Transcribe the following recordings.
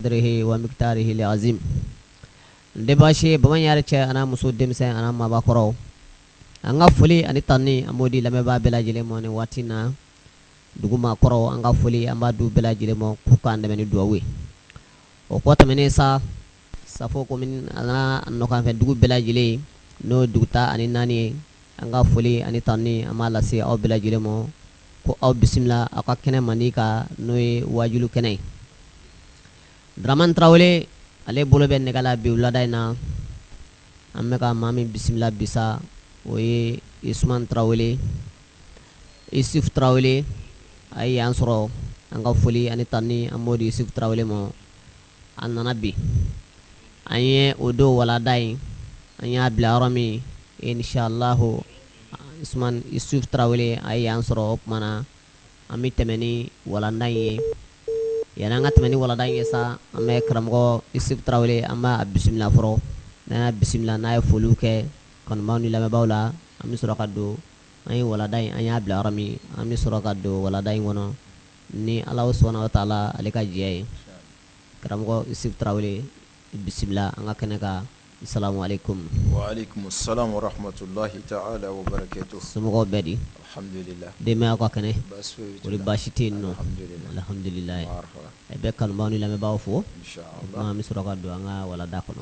dirihi wa mikidarihi li azim n de baasi ye bamaɲɛ yɛrɛ cɛ an'a muso denmisɛn an'a maabakɔrɔw an ka foli ani tanni an b'o di lamɛnbaa bɛɛ lajɛlen ma nin waati na dugu maakɔrɔw an ka foli an b'a d'u bɛɛ lajɛlen ma k'u k'an dɛmɛ ni duwawu ye o kɔ tɛmɛnen sa safo komini an'a nɔkanfɛ dugu bɛɛ lajɛlen n'o ye dugu tan ani naani ye an ka foli ani tanni an b'a lase aw bɛɛ lajɛlen ma ko aw bisimila aw ka kɛnɛ mandi kan n'o ye wajulu kɛnɛ ye daraman tarawele ale bolo bɛ nɛgɛ la bi wulada in na an bɛ ka maa min bisimila bi sa o ye isuman tarawele isuf tarawele a ye yan sɔrɔ an ka foli ani tanni an b'o di isufu tarawele ma a nana bi an ye o don walanda in an y'a bila yɔrɔ min inisiallahu usman isuf tarawele a ye yan sɔrɔ o tuma na an bɛ tɛmɛ ni walanda in ye yanni an ka tɛmɛ ni walanda in ye sa an bɛ karamɔgɔ isuf tarawele an b'a bisimila fɔlɔ n'an y'a bisimila n'a ye foliw kɛ kanubaaw ni lamɛnbaaw la an bɛ sɔrɔ ka don an ye walanda in an y'a bila yɔrɔ min an bɛ sɔrɔ ka don walanda in kɔnɔ ni ala subhanahu wa taala ale ka diɲɛ ye karamɔgɔ isuf tarawele bisimila an ka kɛnɛ kan asalamu aleyikum somɔgɔw bɛɛ di denbaya ka kɛnɛ o baasi tɛ yen nɔn alhamdulila i bɛ kanubaaw ni lamɛnbaaw fo an bɛ sɔrɔ ka don an ka walanda kɔnɔ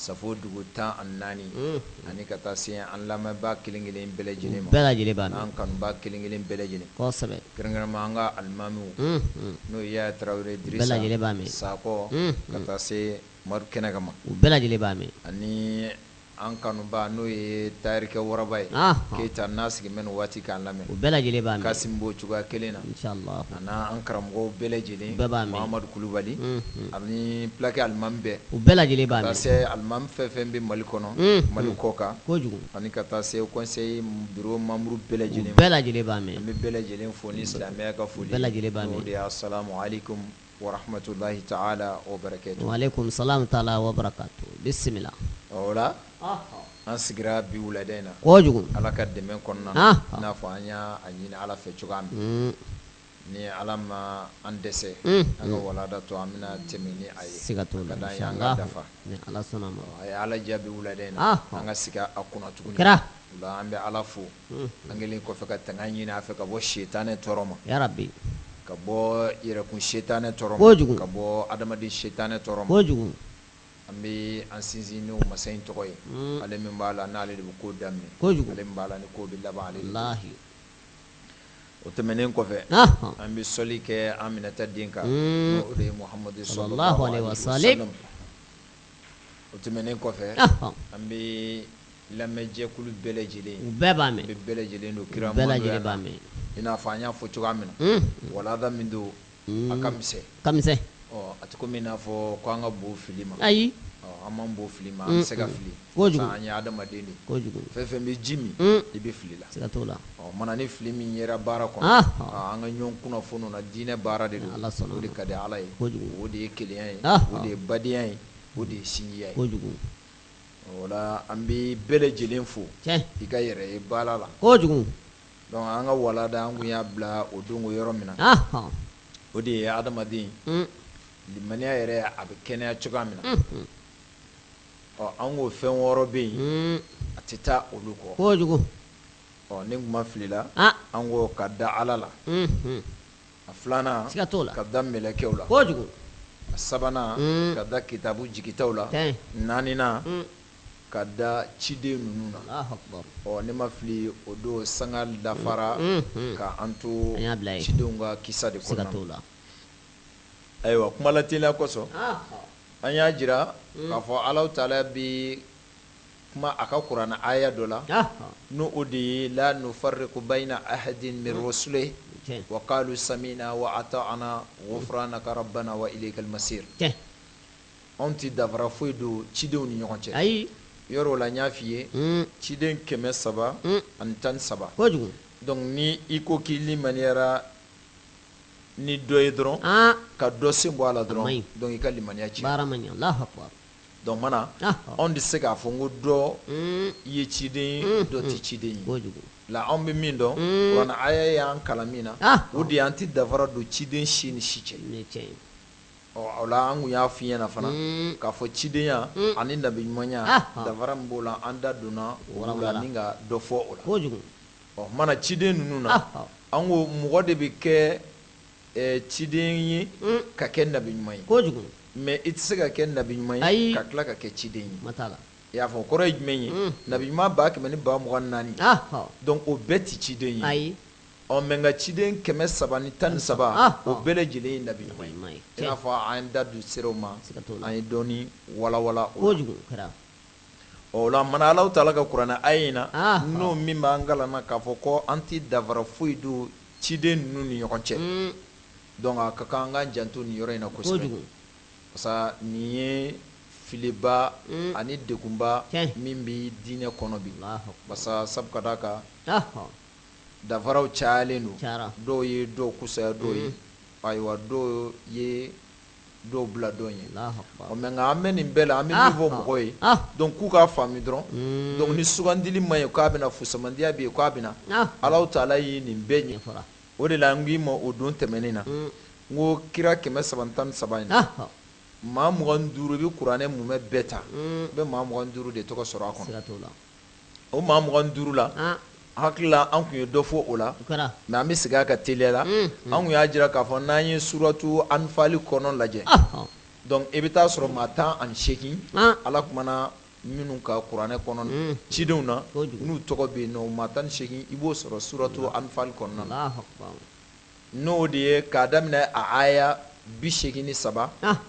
Safo dugu tan ani naani ani ka taa se an lamɛnbaa kelen kelen bɛɛ lajɛlen ma bɛɛ lajɛlen b'a mɛn an kanubaa kelen kelen bɛɛ lajɛlen kɛrɛnkɛrɛnma an ka alimamiw n'o ye yaya tarawele dirisa bɛɛ lajɛlen b'a mɛn sakɔ ka taa se mori kɛnɛ kama u bɛɛ lajɛlen b'a mɛn ani an kanubaa n'o ye tarikɛ waraba ye keyita n'a sigi bɛ waati k'an lamɛn u bɛɛ lajɛlen b'a mɛn kasi bɔ cogoya kelen na Ani an karamɔgɔ bɛɛ lajɛlen mahamadu kulubali ani fulakɛ alimami bɛɛ u bɛɛ lajɛlen b'a mɛn ka taa se alimami fɛn fɛn bɛ mali kɔnɔ mali kɔ kan kojugu ani ka taa se kɔnsɛyi biro manburu bɛɛ lajɛlen bɛɛ lajɛlen b'a mɛn an bɛ bɛɛ lajɛlen fo ni isilamiya ka foli bɛɛ lajɛlen b'a mɛn o de ye asalamu aleyikum wa rahamatulayi taala wa barakatu wa aleyikum salamu taala wa barakatu bisimila o la an sigira bi wulada in na kojugu ala ka dɛmɛ kɔnɔna n'a fɔ an y'a ɲini ala fɛ cogoya min ni ala ma an dɛsɛ an ka walanda tɔ an bɛna tɛmɛ ni a ye k'a da an k'a dafa a ye ala diya bi wulada in na an ka sigi a kunna tuguni o la an bɛ ala fo an kɛlen kɔfɛ ka tanga ɲini a fɛ ka bɔ sitanɛ tɔɔrɔ ma ya rabi ka bɔ yɛrɛkun sitanɛ tɔɔrɔ ma ka bɔ adamaden sitanɛ tɔɔrɔ ma An bɛ an sinsin n'o masa in tɔgɔ ye ale min b'a la n'ale de bɛ ko daminɛ kojugu ale min b'a la ni ko bɛ laban ale la o tɛmɛnen kɔfɛ an bɛ sɔli kɛ Aminata den kan o de ye Muhamadu sallallahu alaihi wa sallam o tɛmɛnen kɔfɛ an bɛ lamɛnjɛkulu bɛɛ lajɛlen u bɛɛ b'a bɛɛ lajɛlen don kira bɛɛ lajɛlen b'a mɛn i n'a fɔ an y'a fɔ cogoya min na walada min don a ka misɛn ka misɛn a tɛ komi i n'a fɔ ko an ka bon fili ma ayi an man bon fili ma an bɛ se ka fili kojugu an ye hadamaden de kojugu fɛn fɛn bɛ ji min i bɛ fili la siga t'o la o tumana ni fili min yera baara kɔnɔ an ka ɲɔgɔn kunnafoni na diinɛ baara de don ala sɔnna o de ka di ala ye kojugu o de ye kelenya ye o de ye badenya ye o de ye sinjiya ye kojugu o la an bɛ bɛɛ lajɛlen fo i ka yɛrɛ ye baara la kojugu Donc an ka walada an tun y'a bila o don yɔrɔ min na o de ye adamaden limaniya yɛrɛ a bɛ kɛnɛya cogoya min na ɔ an ko fɛn wɔɔrɔ bɛ yen a tɛ taa olu kɔ kojugu ɔ ni n tun ma fili la an ko ka da ala la a filanan siga t'o la ka da mɛlɛkɛw la kojugu a sabanan ka da kitabu jigitaw la naaninan ka da ciden ninnu na ɔ ne ma fili o don sanga dafara ka an to cidenw ka kisa de kɔnɔ to la ayiwa kuma lateliya kosɔn an y'a jira k'a fɔ Alahu Taala bɛ kuma a ka kuranɛ aya dɔ la n'o de ye la nufarriqu bayna ahadin min rusulihi wa qalu sami'na wa ata'na ghufranaka rabbana wa ilaykal masir Anw tɛ dafara foyi don cidenw ni ɲɔgɔn cɛ. Ayi. Yɔrɔ o la n y'a f'i ye. Un. Ciden kɛmɛ saba. Un. Ani tan ni saba. Kojugu. Donc ni i ko k'i limaniyara ni dɔ ye dɔrɔn. An! Ka dɔ sen bɔ a la dɔrɔn. A man ɲi. Donc i ka limaniya cira. Baara ma ɲɛ. Alahu akibaru. Donc o tumana. Ɔhɔ! Anw tɛ se k'a fɔ ko dɔ. Un. Ye ciden ye. Unhun. Dɔ tɛ ciden ye. Kojugu. La anw bɛ min dɔn. Un. Kuranɛ aya y'an kalan min na. Ɔhɔ! O de ye an tɛ dafara don ciden si ni si cɛ. Nin ye tiɲɛ ye. O la an tun y'a f'i ɲɛna fana k'a fɔ cidenya ani nabi ɲumanya dafara min b'o la an da donna o la ni ka dɔ fɔ o la kojugu o tumana ciden ninnu na an ko mɔgɔ de bɛ kɛ ciden ye ka kɛ nabi ɲuman ye kojugu mais i tɛ se ka kɛ nabi ɲuman ye ayi ka tila ka kɛ ciden ye siga t'a la i y'a fɔ kɔrɔ ye jumɛn ye nabi ɲuman ba kɛmɛ ni ba mugan naani donc o bɛɛ tɛ ciden ye ayi Ɔ mais nka ciden kɛmɛ saba ni tan ni saba o bɛɛ lajɛlen ye nabi ɲuman ye i n'a fɔ an da tun sera o ma an ye dɔɔni walawala o la kojugu mana Alahu taala ka kurana aaya in na n'o min b'an kalan na k'a fɔ ko an tɛ danfara foyi don ciden ninnu ni ɲɔgɔn cɛ donc a ka kan an k'an janto nin yɔrɔ in na kosɛbɛ kojugu parce que nin ye filiba ani degunba min bɛ diinɛ kɔnɔ bi parce que sabu ka d'a kan dafaraw cayalen don Cayara. dɔw ye dɔw kusaya dɔw ye ayiwa dɔw ye dɔw bila dɔw ɲɛ Alahu akibaru. Ɔ, mais nka an bɛ nin bɛɛ la an bɛ Ah, min fɔ ah, mɔgɔw ye ah. donc k'u k'a faamu dɔrɔn Mm. donc ni sugandili man ɲi k'a bɛna fusamandiya bɛ yen k'a bɛna Ah. Alahu taala ye nin bɛɛ ɲɛ Ɲɛfɔra. o de la n k'i ma o don tɛmɛnen na Mm. n ko kira kɛmɛ saba ni tan ni saba in na Alahu. maa mugan ni duuru i bɛ kuranɛ mumɛ bɛɛ ta Mm. i bɛ maa mugan ni duuru de tɔgɔ sɔrɔ a kɔnɔ Siga t'o la. o maa mugan duuru la hakili la an tun ye dɔ fɔ o la mais an bɛ segin a kan teliya la an tun y'a jira k'a fɔ n'an ye suratu anifali kɔnɔ lajɛ donc i bɛ taa sɔrɔ maa tan ani segin ala kumana minnu kan kuranɛ kɔnɔ cidenw na n'u tɔgɔ bɛ yen nɔ maa tan ni segin i b'o sɔrɔ suratu anifali kɔnɔna N'o de ye k'a daminɛ a aya bi segin ni saba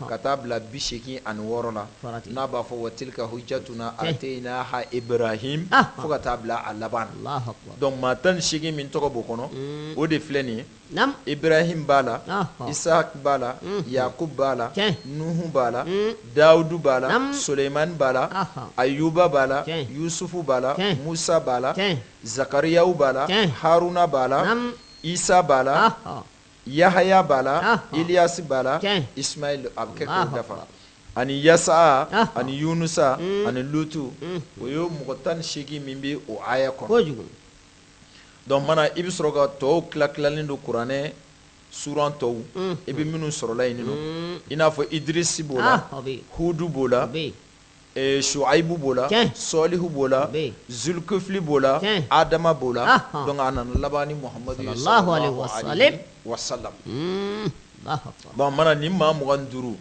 ka taa bila bi segin ani wɔɔrɔ la n'a b'a fɔ wa tilka hujjatuna ataynaha ibrahim fo ka taa bila a laban na donc maa tan ni segin min tɔgɔ b'o kɔnɔ o de filɛ nin ye ibrahim b'a la isaak b'a la yakubu b'a la nuhu b'a la dawudu b'a la sulemani b'a la ayuba b'a la yusufu b'a la musa b'a la zakariyawu b'a la haruna b'a la Isa b'a la yahaya b'a la iliyasi b'a la isimayila a bɛ kɛ k'a dafa ani yasa ani yunusa ani lutu o ye mɔgɔ tan ni segin min bɛ o aya kɔnɔ donc mana i bɛ sɔrɔ k'a tɔw tila tilalen don kuranɛ suran tɔw i bɛ minnu sɔrɔla yen nɔ i n'a fɔ idrisi b'o la hudu b'o la suwayibu b'o la sɔlihu b'o la zulikifili b'o la adama b'o la donc a nana laban ni muhamadu ye sɔlɔlahu alayihi wa salam bon mana ni maa mugan duuru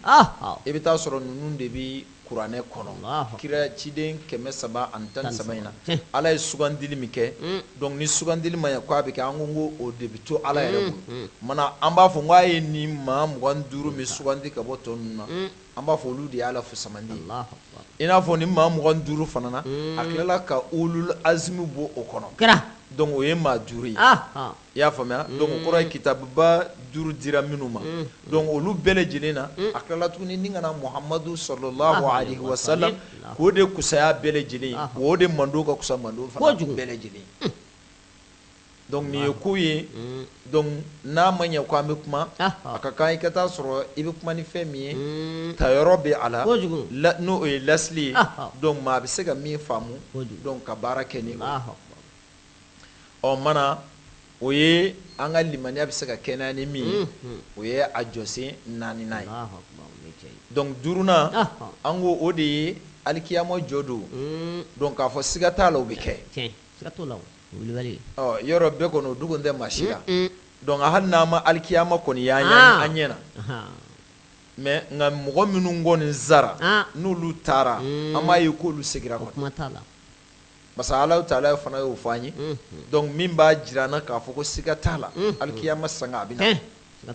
i bɛ taa sɔrɔ ninnu de bɛ kuranɛ kɔnɔ kira ciden kɛmɛ saba ani tan ni saba in na ala ye sugandili min kɛ donc ni sugandili ma ye k' a bɛ kɛ an ko ko o de bɛ to ala yɛrɛ bolo mana an b'a fɔ k'a ye ni maa mugan duuru min sugandi ka bɔ tɔ ninnu na an b'a fɔ olu de y'a la fusamandi ye Alahu akibaru i n'a fɔ ni maa mugan ni duuru fana na a tilala ka ulul azmi bɔ o kɔnɔ kira donc o ye maa duuru ye ahan i y'a faamuya donc o kɔrɔ ye kitabuba duuru dira minnu ma donc olu bɛɛ lajɛlen na a tilala tuguni ni ka na Muhamadu sɔlɔlahu alayihi wa salam k'o de kusaya bɛɛ lajɛlen ye o de mando ka kusa mando fana kojugu bɛɛ lajɛlen ye. donc nin ye ko ye donc n'a ma ɲɛ ko an bɛ kuma a ka kan i ka taa sɔrɔ i bɛ kuma ni fɛn min ye tayɔrɔ bɛ a la n'o ye lasili ye donc maa bɛ se ka min faamu donc ka baara kɛ ni o mana o ye an ka limaniya bɛ se ka kɛnɛya ni min ye o ye a jɔsen naaninan ye donc duurunan an ko o de ye alikiyama jɔ don donc k'a fɔ siga t'a la o bɛ kɛ yɔrɔ bɛɛ kɔnɔ o dogon tɛ maa si la donc hali n'an ma alikiyama kɔni ye an ɲɛ na mais nka mɔgɔ minnu kɔni sara n'olu taara an m'a ye k'olu segira kɔ parce que Alahu Taala fana y'o fɔ an ye donc min b'a jira an na k'a fɔ ko siga t'a la alikiyama sanga a bɛ na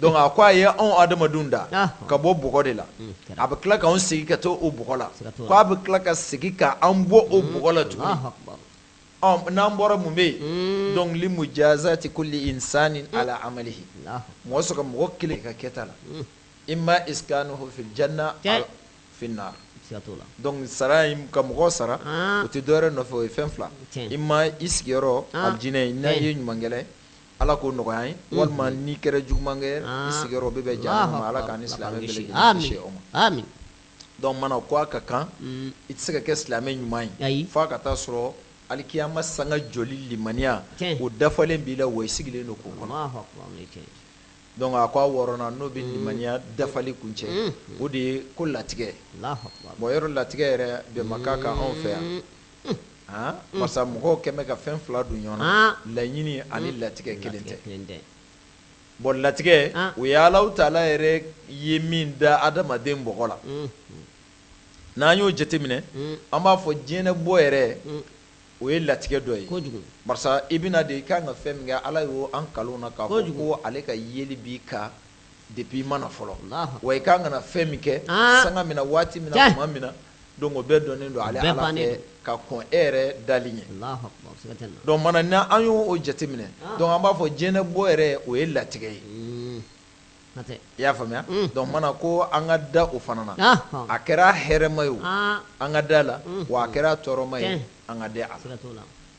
donc a ko a ye anw adamadenw da ka bɔ bɔgɔ de la a bɛ tila k'anw segin ka to o bɔgɔ la ko a bɛ tila ka segin ka an bɔ o bɔgɔ la tuguni n'an bɔra mun bɛ yen donc li mujazati kulli insani ala amalihi mɔgɔ sara mɔgɔ kelen ka kɛta la imma iskanuhu fil janna aw fin nar donc sara in ka mɔgɔ sara o tɛ dɔwɛrɛ nɔfɛ o ye fɛn fila imma i sigiyɔrɔ aljinɛ n'a ye ɲuman kɛla ye Ala k'o nɔgɔya an ye walima n'i kɛra juguman kɛ i sigiyɔrɔ bɛ bɛn jahanama ala k'an ni silamɛ bɛɛ lajɛlen kisi o ma donc mana ko a ka kan i tɛ se ka kɛ silamɛ ɲuman ye fo a ka taa sɔrɔ alikiyama sanga jɔli limaniya o dafalen b'i la wa i sigilen don k'o kɔnɔ donc a ko a wɔɔrɔnan n'o bɛ limaniya dafali kuncɛ o de ye ko latigɛ bon yɔrɔ latigɛ yɛrɛ bɛnbakan kan anw fɛ yan parce que mɔgɔw kɛmɛ bɛ ka fɛn fila don ɲɔgɔn na laɲini ani latigɛ kelen tɛ bon latigɛ o ye Alahu Taala yɛrɛ ye min da adamaden bɔgɔ la n'an y'o jateminɛ an b'a fɔ diɲɛ bɔ yɛrɛ o ye latigɛ dɔ ye parce que i bɛna de i ka kan ka fɛn min kɛ ala y'o an kalo na k'a fɔ ko ale ka yeli b'i kan depuis i ma na fɔlɔ wa i ka kan ka na fɛn min kɛ sanga min na waati min na tuma min donc o bɛɛ dɔnnen don ale Ala fɛ ka kɔn e yɛrɛ dali ɲɛ donc mana n'an y'o jateminɛ donc an b'a fɔ diɲɛ bɔ yɛrɛ o ye latigɛ ye i y'a faamuya donc mana ko an ka da o fana na a kɛra hɛrɛma ye o an ka da a la wa a kɛra tɔɔrɔma ye an ka da a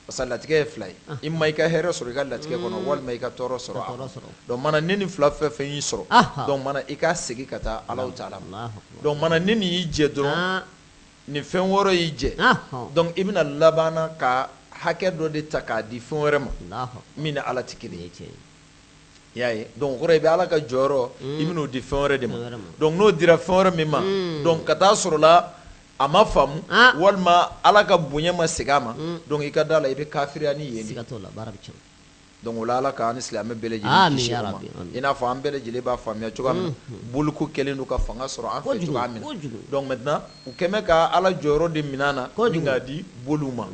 Parce que latigɛ ye fila ye imma i ka hɛrɛ sɔrɔ i ka latigɛ kɔnɔ walima i ka tɔɔrɔ sɔrɔ a kɔnɔ donc mana ni nin fila fɛn o fɛn y'i sɔrɔ donc mana i ka segin ka taa Alahu Taala ma donc mana ni nin y'i jɛ dɔrɔn nin fɛn wɔɔrɔ y'i jɛ donc i bɛna laban ka hakɛ dɔ de ta k'a di fɛn wɛrɛ ma min ni ala tɛ kelen ye i y'a ye donc o kɔrɔ i bɛ ala ka jɔyɔrɔ i bɛn'o di fɛn wɛrɛ de ma donc n'o dira fɛn wɛrɛ min ma donc ka taa sɔrɔ la a ma faamu walima ala ka bonya ma segin a ma dɔnku i ka da a la i bɛ kafiriya ni ye dɔnku o la ala ka an ni silamɛ bɛɛ lajɛlen i n'a fɔ an bɛɛ lajɛlen b'a faamuya cogoya min boli ko kɛlen don ka fanga sɔrɔ an fɛ cogoya min dɔnku mana u kɛlen ka ala jɔyɔrɔ de minɛ an na ni k'a di boli ma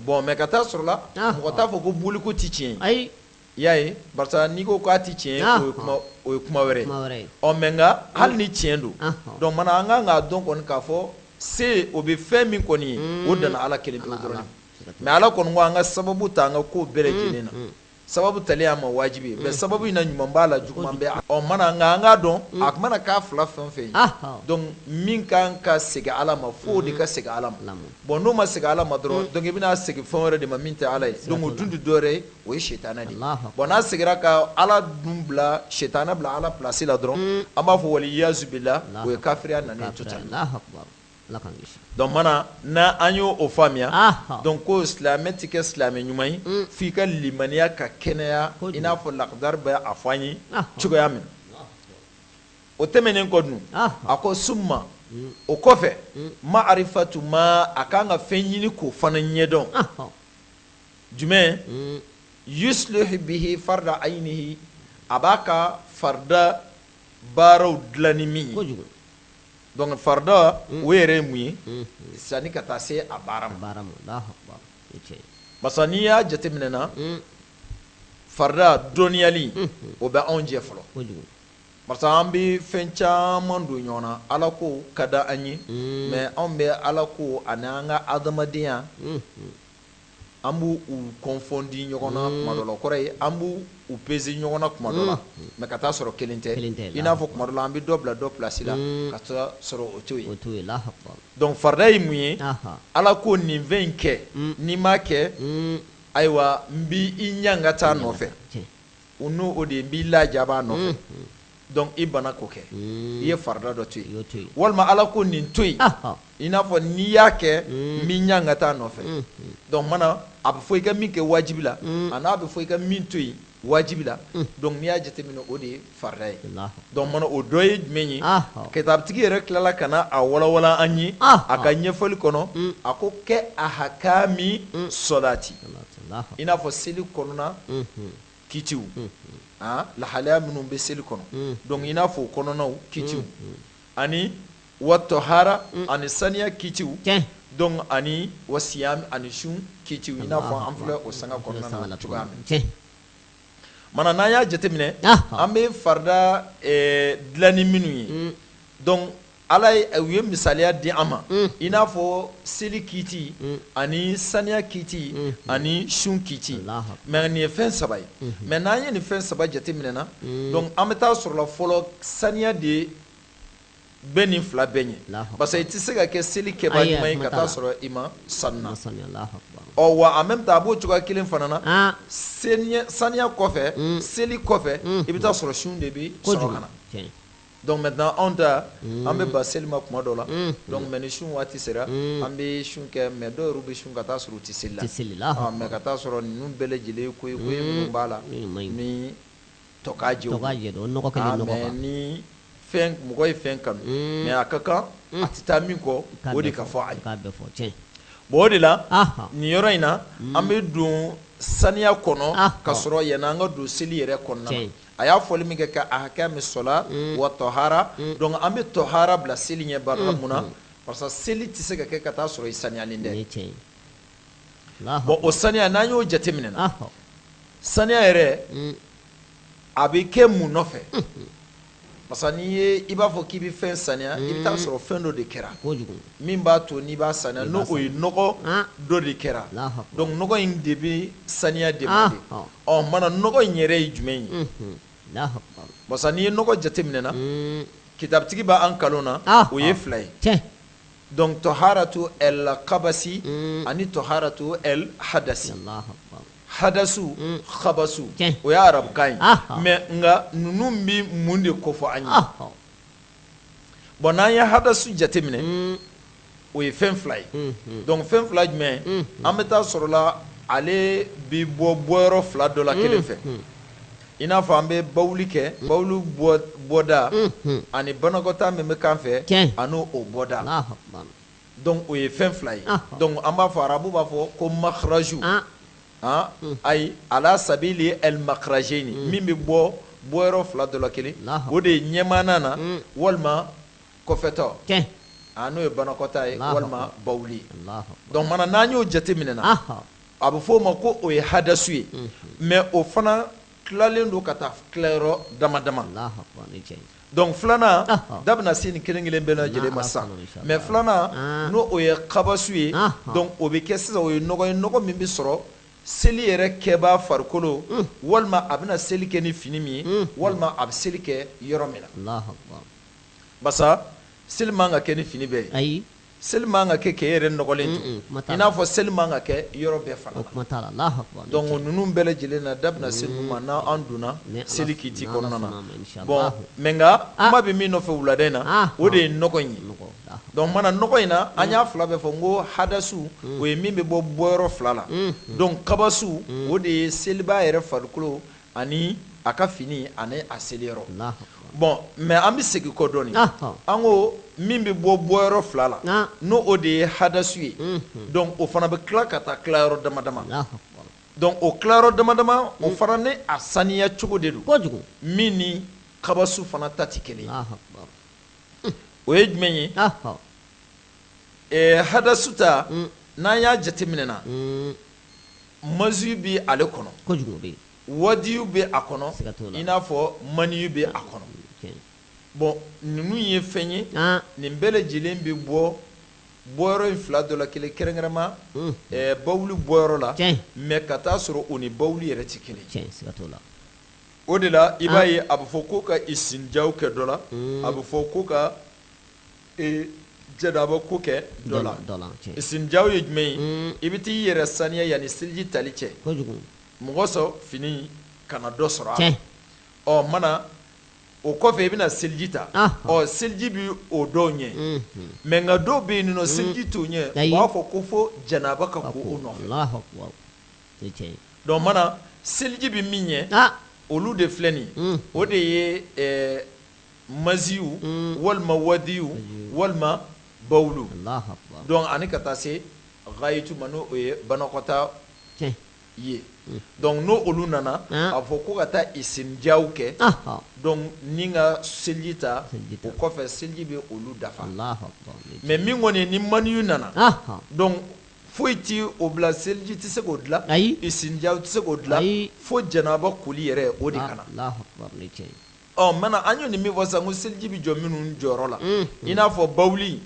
bɔn mɛ ka taa sɔrɔ la mɔgɔ t'a fɔ ko boli ko tɛ tiɲɛ ye I y'a ye barisa n'i ko k'a tɛ tiɲɛ ye o ye kuma o ye kuma wɛrɛ ye kuma wɛrɛ ye ɔ mais nka hali ni tiɲɛ don ɔnhɔn donc mana an kan k'a dɔn kɔni k'a fɔ se o bɛ fɛn min kɔni ye unnn o dan na Ala kelen-kelen dɔrɔn de ma siga t'o la mais Ala kɔni ko an ka sababu ta an ka ko bɛɛ lajɛlen na unnhun sababu tali ye an ma waajibi ye mais sababu in na ɲuman b'a la juguman bɛ a ɔ o mana nka an k'a dɔn a tun mana k'a 2 fɛn o fɛn ye ahɔ donc min kan ka segin Ala ma fo o de ka segin Ala ma bon n'o ma segin Ala ma dɔrɔn donc i bɛn'a segin fɛn wɛrɛ de ma min tɛ Ala ye donc o dun tɛ dɔwɛrɛ ye o ye sitanɛ de ye bɔn n'a seginna ka ala dun bila sitanɛ bila ala plasi la dɔrɔn an b'a fɔ waliyazu bilahi o ye kafiriya nanen totali dɔnku mana n' an y' o faamuya dɔnku ko silamɛ tɛ kɛ silamɛ ɲuman ye f' i ka limaniya ka kɛnɛya i n'a fɔ lakidari bɛ a fɔ an ye cogoya min o tɛmɛnen kɔ dun a ko suma o kɔfɛ maarifatu ma a kan ka fɛn ɲini k'o fana ɲɛdɔn jumɛn yuslihu bihi farda aynihi a b'a ka farida baaraw dilan ni min ye donc farida o yɛrɛ ye mun ye sanni ka taa se a baara ma barisa n'i y'a jateminɛ na farida dɔnniyali o bɛ anw jɛ fɔlɔ barisa an bɛ fɛn caman don ɲɔgɔn na Ala ko ka di an ye mais anw bɛ Ala ko ani an ka adamadenya An b' u kɔnfɔndi ɲɔgɔn na kuma dɔ la o kɔrɔ ye an b' u peze ɲɔgɔn na kuma dɔ la mɛ ka taa sɔrɔ kelen tɛ i n'a fɔ kuma dɔ la an bɛ dɔ bila dɔ plasi la ka taa sɔrɔ o t'o ye dɔnku farida ye mun ye ala ko nin fɛn in kɛ n'i m'a kɛ ayiwa n b' i ɲangata a nɔfɛ u n'o o de n b'i lajaba a nɔfɛ Donc i banna k'o kɛ i ye farida dɔ to yen walima ala ko nin to yen i n'a fɔ n'i y'a kɛ n b'i ɲangata a nɔfɛ dɔnku mana a bɛ fɔ i ka min kɛ wajibi la ani a bɛ fɔ i ka min to yen wajibi la dɔnku n'i y'a jateminɛ o de ye farida ye dɔnku mana o dɔ ye jumɛn ye kitabitigi yɛrɛ tilala ka na a walawala an ye a ka ɲɛfɔli kɔnɔ a ko kɛ a hakami sɔlati i n'a fɔ seli kɔnɔna kitiw lahalaya minnu bɛ seli kɔnɔ dɔnku i n'a fɔ o kɔnɔnaw kitiw ani watohara ani saniya kitiw dɔnku ani wa siyami ani sun kitiw i n'a fɔ an filɛ o sanga kɔnɔna na cogoya min mana n'an y'a jateminɛ an bɛ farida dilan ni minnu ye Ala ye u ye misaliya di an ma i n'a fɔ seli kiti ani saniya kiti ani sun kiti mais nin ye fɛn saba ye mais n'an ye nin fɛn saba jateminɛ na donc an bɛ taa sɔrɔla fɔlɔ saniya de bɛ nin fila bɛɛ ɲɛ parce i tɛ se ka kɛ seli kɛba ɲuman ye ka taa sɔrɔ i ma saniya wa en même temps a b'o cogoya kelen fana na saniya kɔfɛ seli kɔfɛ i bɛ taa sɔrɔ sun de bɛ sɔrɔ ka na Donc maintenant anw ta unn an bɛ ban seli ma tuma dɔ la unhun donc mais ni sun waati sera unn an bɛ sun kɛ mais dɔw yɛr'u bɛ sun ka taa sɔrɔ u tɛ seli la u tɛ seli la ɔ mais ka taa sɔrɔ ninnu bɛɛ lajɛlen ye ko ye ko ye minnu b'a la minnu man ɲi ni tɔkajɛ tɔkajɛ don o nɔgɔ kɛlen nɔgɔ kan aa mais ni fɛn mɔgɔ ye fɛn kanu unn mais a ka kan a tɛ taa min kɔ o de ka fɔ a ye i k'a bɛɛ fɔ tiɲɛ bon o de la anhan nin yɔrɔ in na unn an bɛ don saniya kɔnɔ anhan ka sɔrɔ yani an ka don seli yɛrɛ kɔnɔna na tiɲɛ a y'a fɔli min kɛ ka ahakami sɔla wa tɔhara donc an bɛ tɔhara bila seli ɲɛ barika mun na parce que seli tɛ se ka kɛ ka taa sɔrɔ i saniyalen tɛ bon o saniya n'an y'o jateminɛ na saniya yɛrɛ a bɛ kɛ mun nɔfɛ parce que n'i ye i b'a fɔ k'i bɛ fɛn saniya i bɛ taa sɔrɔ fɛn dɔ de kɛra min b'a to n'i b'a saniya n'o o ye nɔgɔ dɔ de kɛra donc nɔgɔ in de bɛ saniya demande ɔ maintenant nɔgɔ in yɛrɛ ye jumɛn ye parce que n'i ye nɔgɔ jateminɛ na mm. kitabitigi b'an kalan na ah, o ye ah. fila ye donc tɔharatu el kabasi mm. ani tɔharatu el hadasi hadasu mm. khabasu o ye arabukan ye ah, mais nka ninnu bɛ mun de kofɔ an ye bɔn n'an ye hadasu jateminɛ mm. o ye fɛn fila ye mm, mm. donc fɛn fila jumɛn an bɛ taa sɔrɔla ale bi bɔ bɔyɔrɔ fila dɔ la kelen fɛ i n'a fɔ an bɛ bawuli kɛ bawuli bɔda ani banakɔtaa min bɛ kan fɛ ani o bɔda donc o ye fɛn fila ye donc an b'a fɔ arabu b'a fɔ ko makaraju ah. ayi ala sabilen alimakarajeni min bɛ bɔ bɔyɔrɔ fila dɔ la kelen o de ye ɲɛmaana na walima kɔfɛtɔ n'o ye banakɔtaa ye walima bawuli donc maintenant n'an y'o jateminɛ na a bɛ f'o ma ko o ye hadasu ye mais o fana tilalen don ka taa tilayɔrɔ dama dama Donc filanan da bɛna se nin kelen kelen bɛɛ lajɛlen ma sisan mais filanan n' o ye kabasu ye donc o bɛ kɛ sisan o ye nɔgɔ ye nɔgɔ min bɛ sɔrɔ seli yɛrɛ kɛba farikolo walima a bɛna seli kɛ ni fini min ye walima a bɛ seli kɛ yɔrɔ min na parce que seli man ka kɛ ni fini bɛɛ ye ayi Seli man ka kɛ k'i yɛrɛ nɔgɔlen to i n'a fɔ seli man ka kɛ yɔrɔ bɛɛ fana donc ninnu bɛɛ lajɛlen na da bɛna se ninnu ma n' an donna seli kiiti kɔnɔna na bon mais nka kuma bɛ min nɔfɛ wulada in na o de ye nɔgɔ in ye donc mana nɔgɔ in na an y'a fila bɛɛ fɔ n ko hadasu o ye min bɛ bɔ bɔyɔrɔ fila la donc kabasu o de ye selibaa yɛrɛ farikolo ani a ka fini ani a seliyɔrɔ bon mais an bɛ segin kɔ dɔɔnin an ko min bɛ bɔ bɔyɔrɔ fila la n'o o de ye hadasu ye donc o fana bɛ tila ka taa tilayɔrɔ dama dama donc o tilayɔrɔ dama dama o fana ni a saniya cogo de don kojugu min ni kabasu fana ta tɛ kelen o ye jumɛn ye hadasu ta n'an y'a jateminɛ na Maziyu bɛ ale kɔnɔ wadiyu bɛ a kɔnɔ i n'a fɔ maniyu bɛ a kɔnɔ bon ninnu ye fɛn ye nin bɛɛ lajɛlen bɛ bɔ bɔyɔrɔ in fila dɔ la kelen kɛrɛnkɛrɛnma bawuli bɔyɔrɔ la mais ka taa'a sɔrɔ o ni bawuli yɛrɛ tɛ kelen o de la i b'a ye a bɛ fɔ ko ka isinjaw kɛ dɔ la a bɛ fɔ ko ka janaba ko kɛ dɔ la isinjaw ye jumɛn ye i bɛ taa'i yɛrɛ saniya yanni seliji tali cɛ mɔgɔ sɔrɔ fini kana dɔ sɔrɔ a ɔ mana o kɔfɛ i bɛna seliji ta ɔ seliji bɛ o dɔw ɲɛ mais nka dɔw bɛ yen ninnu seliji t'o ɲɛ u b'a fɔ ko fo janaba ka ko o nɔ donc mana seliji bɛ min ɲɛ olu de filɛ nin o de ye maziyu walima wadiyu walima bawulu donc ani ka taa se gayitu ma n'o o ye banakɔtaa ye donc n' olu nana a fɔ ko ka taa isinjaw kɛ donc ni ka seliji ta o kɔfɛ seliji bɛ olu dafa mais min kɔni ni maniyu nana donc foyi tɛ o bila seliji tɛ se k'o dilan ayi isinjaw tɛ se k'o dilan fo janaba koli yɛrɛ o de ka na ɔ maintenant an y'o ni min fɔ sisan ko seliji bɛ jɔ minnu jɔyɔrɔ la i n'a fɔ bawuli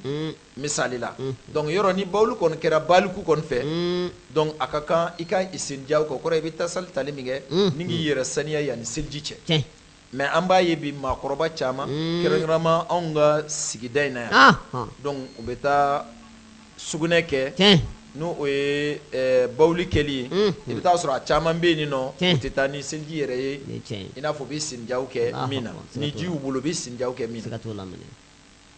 misali la donc yɔrɔ ni bawuli kɔni kɛra baliku kɔni fɛ donc a ka kan i ka isinjaw kɛ o kɔrɔ i bɛ tasali tali min kɛ ni k'i yɛrɛ saniya yanni seliji cɛ tiɲɛ mais an b'a ye bi maakɔrɔba caman kɛrɛnkɛrɛnma anw ka sigida in na yan donc u bɛ taa sugunɛ kɛ, tiɲɛ, n'o o ye bawuli kɛli ye, unhun, i bɛ t'a sɔrɔ a caman bɛ yen nɔ, tiɲɛ, u tɛ taa ni seliji yɛrɛ ye, o ye tiɲɛ ye, i n'a fɔ u bɛ sinjaw kɛ min na, ni ji y'u bolo u bɛ sinjaw kɛ min na, siga t'o la,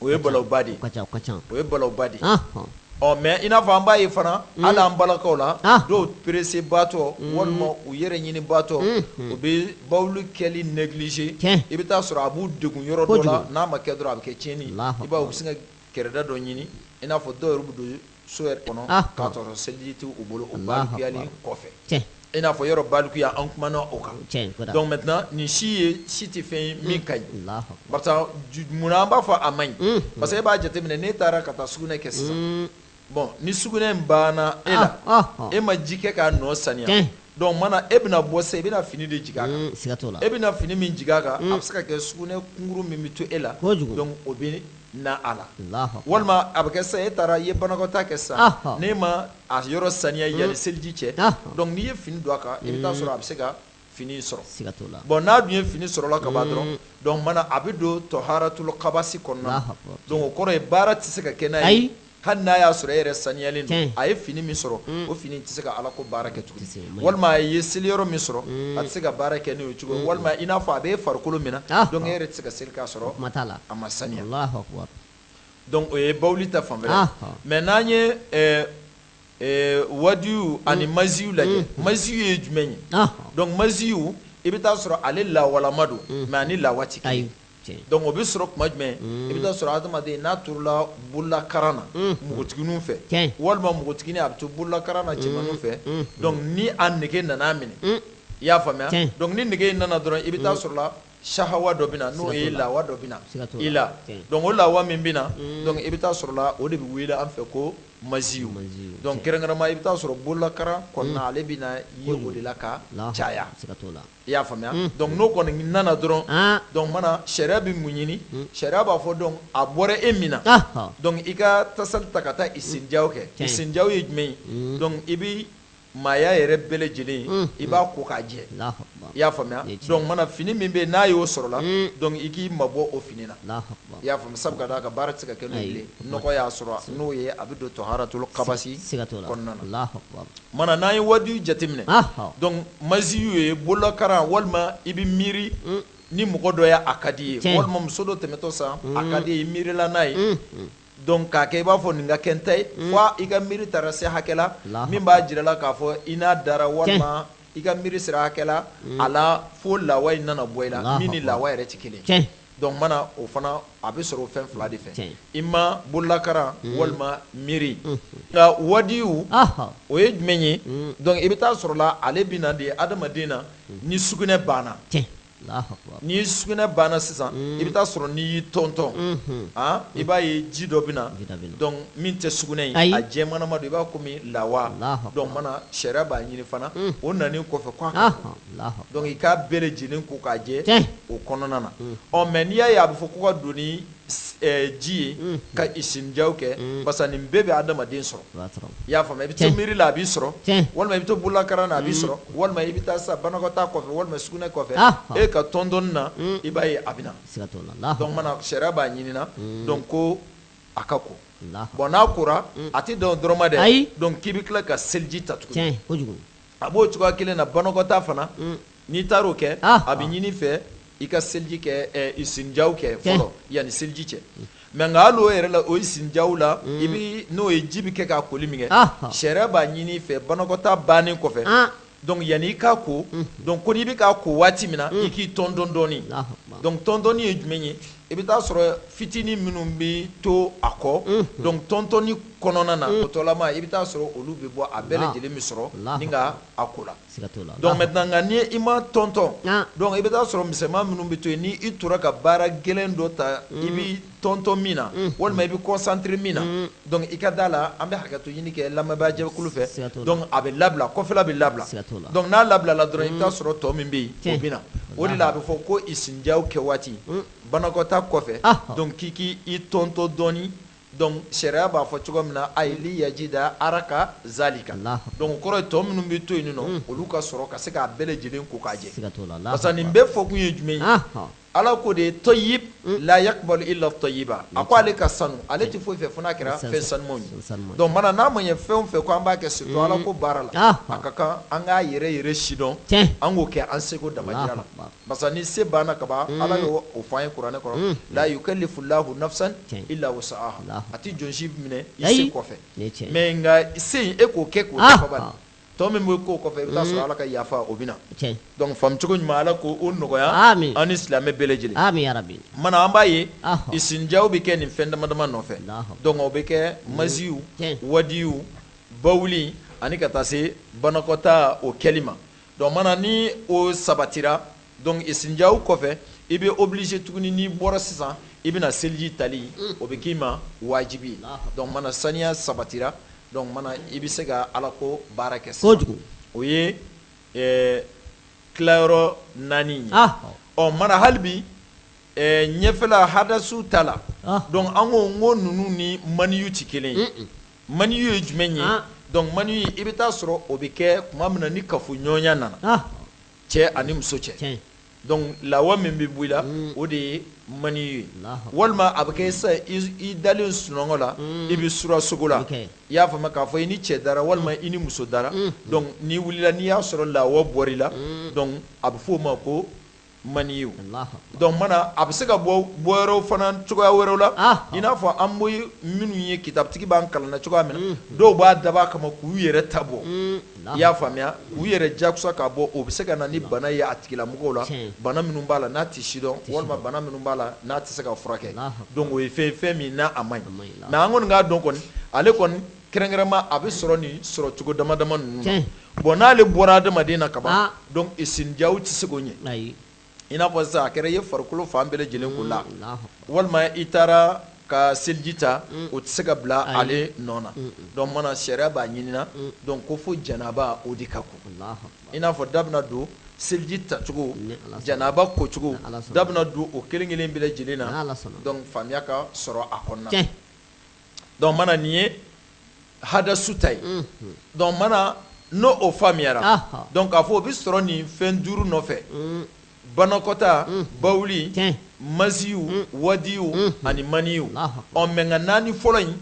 o ye balawba de ye, o ka ca, o ka ca, o ye balawba de ye, anhan, ɔ mais i n'a fɔ an b'a ye fana, unhun, hali an balakaw la, anhan, dɔw pressé baatɔ, unhun, walima u yɛrɛ ɲini baatɔ, unhun, u bɛ bawuli kɛli négliger, tiɲɛ, i bɛ t'a sɔrɔ a b'u degun yɔrɔ dɔ la, kojugu, n'a ma kɛ dɔrɔn a bɛ kɛ tiɲɛni ye, Alahu akbar, i b'a ye u bɛ sin ka kɛrɛda dɔ ɲini i n'a fɔ dɔw yɛrɛ bɛ don so yɛrɛ kɔnɔ ah, k'a sɔrɔ seliji tɛ u bolo o balikuyali kɔfɛ i n'a fɔ yɔrɔ balikuya an kumana o kan donc maintenant nin si ye si tɛ fɛn ye min ka ɲi barisa munna an b'a fɔ a man ɲi mm. parce que e b'a jateminɛ n'e taara ka taa sugunɛ kɛ sisan mm. bon ni sugunɛ in banna e la e ma ji kɛ k'a nɔ saniya donc mana e bɛna bɔ sa i bɛna fini de jigin a kan e bɛna fini min jigin a kan a bɛ se ka kɛ sugunɛ kunkuru min bɛ to e la donc o bɛ na a la walima a bɛ kɛ sa e taara i ye banakɔtaa kɛ sa n'e ma a yɔrɔ saniya yanni seliji cɛ donc n'i ye fini don a kan i bɛ taa sɔrɔ a bɛ se ka fini sɔrɔ siga t'o la bon n'a dun ye fini sɔrɔla ka ban dɔrɔn donc mana a bɛ don tɔharatul kabasi kɔnɔna na donc o kɔrɔ ye baara tɛ se ka kɛ n'a ye hali n'a y'a sɔrɔ e yɛrɛ saniyalen don a ye fini min sɔrɔ o fini tɛ se ka Ala ko baara kɛ tuguni walima a ye seliyɔrɔ min sɔrɔ a tɛ se ka baara kɛ n'o ye cogo walima i n'a fɔ a b'e farikolo min na donc e yɛrɛ tɛ se ka seli k'a sɔrɔ o kuma t'a la a ma saniya donc o ye bawuli ta fanfɛla ye mais n'an ye wadiyu ani maziyu lajɛ maziyu ye jumɛn ye donc maziyu i bɛ taa sɔrɔ ale lawalama don mais a ni lawa tɛ kelen donc o bɛ sɔrɔ tuma jumɛn i bɛ taa sɔrɔ adamaden n'a torala bololakaran na npogotigininw fɛ walima npogotiginin a bɛ to bololakaran na cɛmanninw fɛ donc ni a nege nana minɛ i y'a faamuya donc ni nege in nana dɔrɔn i bɛ taa sɔrɔ sahawa dɔ bɛ na n'o ye lawa dɔ bɛ na i la donc o lawa min bɛ na donc i bɛ taa sɔrɔ la o de bɛ wele an fɛ ko maziyu donc kɛrɛnkɛrɛnnama i bɛ taa sɔrɔ bololakaran kɔnɔna ale bɛ na ye o de la ka caya i y'a faamuya donc n'o kɔni nana dɔrɔn donc mana sariya bɛ mun ɲini sariya b'a fɔ donc a bɔra e min na donc i ka tasali ta ka taa isinja kɛ isinja ye jumɛn ye i bɛ maaya yɛrɛ bɛɛ lajɛlen mm. i b'a ko k'a jɛ i y'a faamuya donc mana fini min bɛ yen n'a y'o sɔrɔ la mm. donc i k'i mabɔ o fini na i y'a faamu sabu ka d'a kan baara tɛ se ka kɛ n'o ye nɔgɔ y'a sɔrɔ n'o ye a bɛ don tɔharatul kabasi kɔnɔna na mana n'an ye wadiyu jateminɛ donc maziyu ye bololakaran walima i bɛ miiri mm. ni mɔgɔ dɔ y'a a ka d'i ye walima muso dɔ tɛmɛtɔ sa a ka d'i ye i miirila n'a ye Donc k'a kɛ i b'a fɔ nin ka kɛ n ta ye, un, fo i ka miiri taara se hakɛ la, Alahu akibaru, min b'a jira la k'a fɔ i n'a dara walima i ka miiri sera hakɛ la, un, a la fo lawa in nana bɔ i la, Alahu akibaru, min ni lawa yɛrɛ tɛ kelen ye, tiɲɛ, donc mana o fana a bɛ sɔrɔ o fɛn fila de fɛ, tiɲɛ, i ma bololakaran walima miiri, unhun, nka wadiyu, ɔhɔ, o ye jumɛn ye, un, donc i bɛ taa sɔrɔ la ale bɛ na de hadamaden na ni sugunɛ banna, tiɲɛ. ni sugunɛ banna sisan mm. i bɛ taa sɔrɔ n'i y'i tɔntɔn mm-hmm. ah, i b'a ye ji dɔ bɛ na donc min tɛ sugunɛ ye a jɛmanama don i b'a komi lawa donc mana sariya b'a ɲini fana mm. o nanen kɔfɛ k'a ka donc i k'a bɛɛ lajɛlen ko k'a jɛ o kɔnɔna na mm. ɔ mais n'i y'a ye a bɛ fɔ ko ka don ji ye ka isinjaw kɛ parce que nin bɛɛ bɛ adamaden sɔrɔ i y'a faamuya i bɛ to miiri la a b'i sɔrɔ walima i bɛ to bololankaran na a b'i sɔrɔ walima i bɛ taa sa banakɔtaa kɔfɛ walima sugunɛ kɔfɛ e ka tɔntɔn na i b'a ye a bɛ na donc mana sariya b'a ɲini donc ko a ka ko bon n'a kora a tɛ dan o dɔrɔn ma dɛ donc k'i bɛ tila ka seliji ta tugun a b'o cogoya kelen na banakɔtaa fana N'i taara o kɛ a bɛ ɲini i fɛ i ka seliji kɛ isinjaw kɛ fɔlɔ yanni seliji cɛ mais nka hali o yɛrɛ la o isinjaw la i bɛ n'o ye ji bɛ kɛ k'a koli min kɛ sariya b'a ɲini i fɛ banakɔtaa bannen kɔfɛ donc yanni i k'a ko donc ko n'i bɛ k'a ko waati min na i k'i tɔntɔn dɔɔni donc tɔntɔnni ye jumɛn ye i bɛ taa sɔrɔ fitinin minnu bɛ to a kɔ donc tɔntɔnni kɔnɔna na o tɔlama i bɛ taa sɔrɔ olu bɛ bɔ a bɛɛ lajɛlen bɛ sɔrɔ n'i ka a ko la i ma tɔntɔn donc i bɛ taa sɔrɔ misɛnman minnu bɛ to yen n' i tora ka baara gɛlɛn dɔ ta i bɛ tɔntɔn min na walima i bɛ concentré min na donc i ka da la an bɛ hakɛto ɲini kɛ lamɛnbaa jɛkulu fɛ donc a bɛ labila kɔfɛla bɛ labila donc n'a labilala dɔrɔn i bɛ taa sɔrɔ tɔ min bɛ yen o bɛ na o de la a bɛ fɔ ko isinjaw kɛ waati banakɔtaa kɔfɛ donc k'i k'i tɔntɔn dɔɔni donc sariya b'a fɔ cogo min na ayili yajida araka zalika donc o kɔrɔ ye tɔ minnu bɛ to yen nɔ olu ka sɔrɔ ka se k'a bɛɛ lajɛlen ko k'a jɛ parce que nin bɛɛ fɔ kun ye jumɛn ye ala ko de ye tɔyib la yakbalu illa tɔyiba a ko ale ka sanu ale tɛ foyi fɛ fo n'a kɛra fɛn sanuman ye donc mana n'a ma ye fɛn o fɛn ko an b'a kɛ surtout ala ko baara la a ka kan an k'a yɛrɛ yɛrɛ sidɔn an k'o kɛ an seko damajira la Parce que ni se banna kaban ala y'o fɔ an ye kuranɛ kɔnɔ la yukallifu llahu nafsan illa wusaha a tɛ jɔn si minɛ i se kɔfɛ mais nka se e k'o kɛ k'o dafa ban tɔ min bɛ k'o kɔfɛ i bɛ taa sɔrɔ ala ka yafa o bɛ na donc faamucogo ɲuman ala k'o nɔgɔya an ni silamɛ bɛɛ lajɛlen mana an b'a ye isinjaw bɛ kɛ nin fɛn dama dama nɔfɛ donc o bɛ kɛ maziyu wadiyu bawuli ani ka taa se banakɔta o kɛli ma Donc mana ni o sabatira donc isinjaw kɔfɛ i bɛ obligé tuguni n'i bɔra sisan i bɛna seliji tali o bɛ k'i ma wajibi ye donc mana saniya sabatira donc mana i bɛ se ka ala ko baara kɛ sisan o ye tilayɔrɔ naani ye ɔ mana hali bi ɲɛfɛla hadasu ta la donc an ko n ko ninnu ni maniyu tɛ kelen ye Maniyu ye jumɛn ye donc maniyu i bɛ taa sɔrɔ o bɛ kɛ tuma min na ni kafoɲɔgɔnya nana cɛ ani muso cɛ donc lawa min bɛ bɔ i la o de ye maniyu ye walima a bɛ kɛ sa i dalen sunɔgɔ la i bɛ sura sogo la i y'a faamuya k'a fɔ i ni cɛ dara walima i ni muso dara donc n'i wulila n'i y'a sɔrɔ lawa bɔra i la donc a bɛ f'o ma ko maniyu donc mana a bɛ se ka bɔ bɔ wɛrɛw fana cogoya wɛrɛw la i n'a fɔ an bɛ minnu ye kitabutigi b'an kalan na cogoya min na dɔw b'a dabɔ a kama k'u yɛrɛ ta bɔ i y'a faamuya k'u yɛrɛ jakusa k'a bɔ o bɛ se ka na ni bana ye a tigilamɔgɔw la bana minnu b'a la n'a tɛ sidɔn walima bana minnu b'a la n'a tɛ se ka furakɛ donc o ye fɛn fɛn min n'a a man ɲi mais an kɔni k'a dɔn kɔni ale kɔni Kɛrɛnkɛrɛnma a bɛ sɔrɔ nin sɔrɔ cogo dama dama ninnu bon n'ale bɔra adamaden na ka ban donc isinjaw tɛ se k'o ɲɛ i n'a fɔ sisan a kɛra i ye farikolo fan bɛɛ lajɛlen ko la walima i taara ka seliji ta o tɛ se ka bila ale nɔ na donc mana sariya b'a ɲinina donc ko fo janaba o de ka ko i n'a fɔ da bɛna don seliji tacogo janaba kocogo da bɛna don o kelen kelen bɛɛ lajɛlen na donc faamuya ka sɔrɔ a kɔnɔna donc mana nin ye hadasu ta ye donc mana n'o o faamuyara donc k'a fɔ o bɛ sɔrɔ nin fɛn duuru nɔfɛ banakɔta bawuli maziyu wadiyu ani maniyu ɔ mais nka naani fɔlɔ in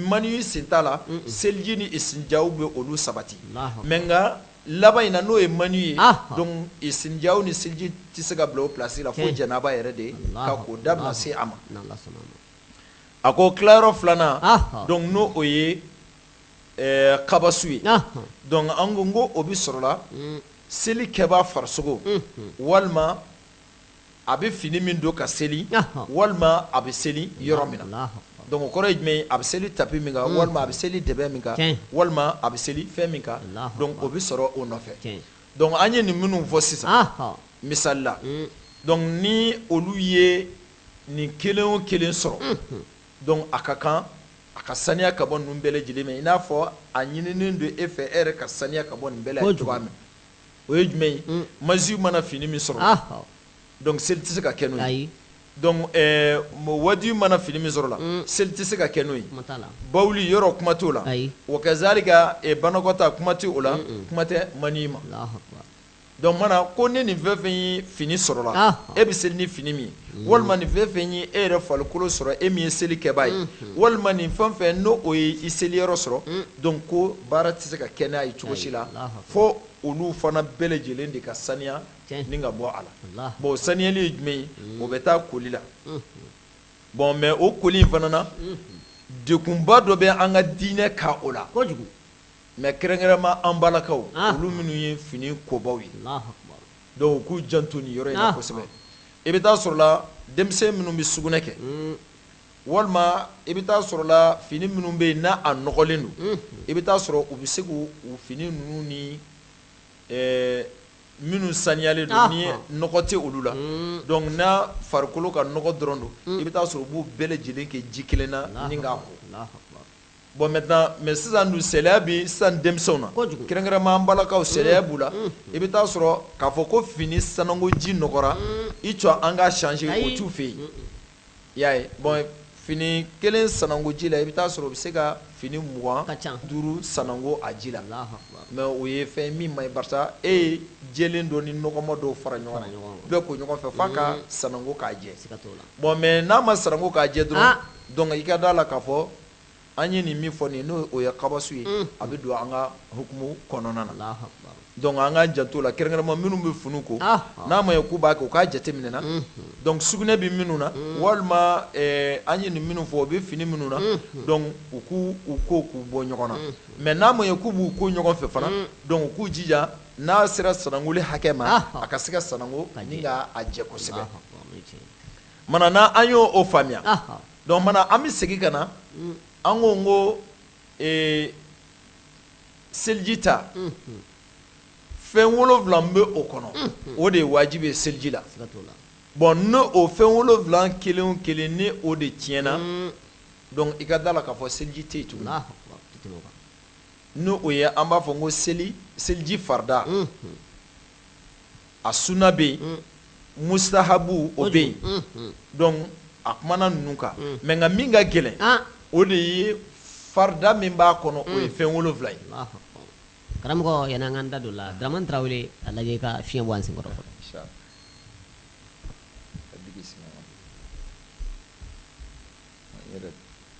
maniyu sen t'a la seliji ni isinjaw bɛ olu sabati mais nka laban in na n'o ye maniyu ye donc isinjaw ni seliji tɛ se ka bila o place la fo janaba yɛrɛ de ka ko da bɛna se a ma a ko tilayɔrɔ filanan donc n'o o ye kabasu ye donc an ko n ko o bɛ sɔrɔla seli kɛbaa farisogo walima a bɛ fini min don ka seli walima a bɛ seli yɔrɔ min na donc o kɔrɔ ye jumɛn a bɛ seli tapi min kan walima a bɛ seli dɛbɛ min kan walima a bɛ seli fɛn min kan donc o bɛ sɔrɔ o nɔfɛ donc an ye nin minnu fɔ sisan misali la donc ni olu ye nin kelen o kelen sɔrɔ donc a ka kan a ka saniya ka bɔ ninnu bɛɛ lajɛlen ma i n'a fɔ a ɲininen don e fɛ e yɛrɛ ka saniya ka bɔ nin bɛɛ la cogoya min o ye jumɛn ye mm. maziyu mana fini min sɔrɔ donc seli tɛ se ka kɛ n'o ye donc wadiyu mana fini min sɔrɔ la mm. seli tɛ se ka kɛ n'o ye bawuli yɔrɔ kuma t'o la wa kazalika banakɔta kuma tɛ o la kuma tɛ maniyu ma Donc mana ko ni nin fɛn fɛn ye fini sɔrɔ la, ɔnhɔn, e bɛ seli ni fini min ye walima nin fɛn fɛn ye e yɛrɛ farikolo sɔrɔ e min ye seli kɛbaa ye walima nin fɛn fɛn n'o o ye i seli yɔrɔ sɔrɔ donc ko baara tɛ se ka kɛ n'a ye cogo si la fo olu fana bɛɛ lajɛlen de ka saniya ni ka bɔ a la bon saniyali ye jumɛn ye o bɛ taa koli la bon mais o koli in fana na degunba dɔ bɛ an ka diinɛ kan o la Mais kɛrɛnkɛrɛnma an balakaw olu minnu ye fini kobaw ye donc u k'u janto nin yɔrɔ in kosɛbɛ i bɛ taa sɔrɔla denmisɛn minnu bɛ sugunɛ kɛ walima i bɛ taa sɔrɔla fini minnu bɛ yen n'a a nɔgɔlen don i bɛ taa sɔrɔ u bɛ se k'u fini ninnu ni minnu saniyalen don ni nɔgɔ tɛ olu la donc n'a farikolo ka nɔgɔ dɔrɔn don i bɛ taa sɔrɔ u b'u bɛɛ lajɛlen kɛ ji kelen na Bon maintenant mais sisan dun saliya bɛ sisan denmisɛnw na, kɛrɛnkɛrɛnma an balakaw saliya b'u la, i bɛ taa sɔrɔ k'a fɔ ko fini sanangoji nɔgɔra i jɔ an k'a changer o t'u fɛ yen, i y'a ye bon fini kelen sanangoji la i bɛ taa sɔrɔ u bɛ se ka fini mugan duuru sanangon a ji la, mais o ye fɛn min man ɲi barisa e ye jɛlen dɔ ni nɔgɔman dɔw fara ɲɔgɔn kan, bɛɛ ko ɲɔgɔn fɛ f'a ka sanangon k'a jɛ, bon mais n'a ma sanangon k'a jɛ dɔrɔn, donc i ka d'a la k'a fɔ an ye nin min fɔ nin n'o o ye kabasu ye a bɛ don an ka hukumu kɔnɔna na donc an ka janto la kɛrɛnkɛrɛnma minnu bɛ fini ko n'a ma ye k'u b'a kɛ u k'a jate minɛ na donc sugunɛ bɛ minnu na walima an ye nin minnu fɔ o bɛ fini minnu na donc u k'u ko k'u bɔ ɲɔgɔn na mais n'a ma ye k'u b'u ko ɲɔgɔn fɛ fana donc u k'u jija n'a sera sanangoli hakɛ ma a ka se ka sanango ni k'a jɛ kosɛbɛ mana n'an y'o faamuya Donc mana an bɛ segin ka na an ko n ko seliji ta fɛn wolonwula bɛ o kɔnɔ o de ye wajibi ye seliji la bon n' o fɛn wolonwula kelen o kelen ni o de tiɲɛna donc i ka d'a la k'a fɔ seliji tɛ yen tuguni n' o ye an b'a fɔ n ko seli seliji farida a suna bɛ yen mustahabu o bɛ yen donc a kumana ninnu kan mais nka min ka gɛlɛn o de ye farida min b'a kɔnɔ o ye fɛn wolonwula ye karamɔgɔ yanni an ka da don la tarawele a lajɛ ka fiɲɛ bɔ an sen kɔrɔ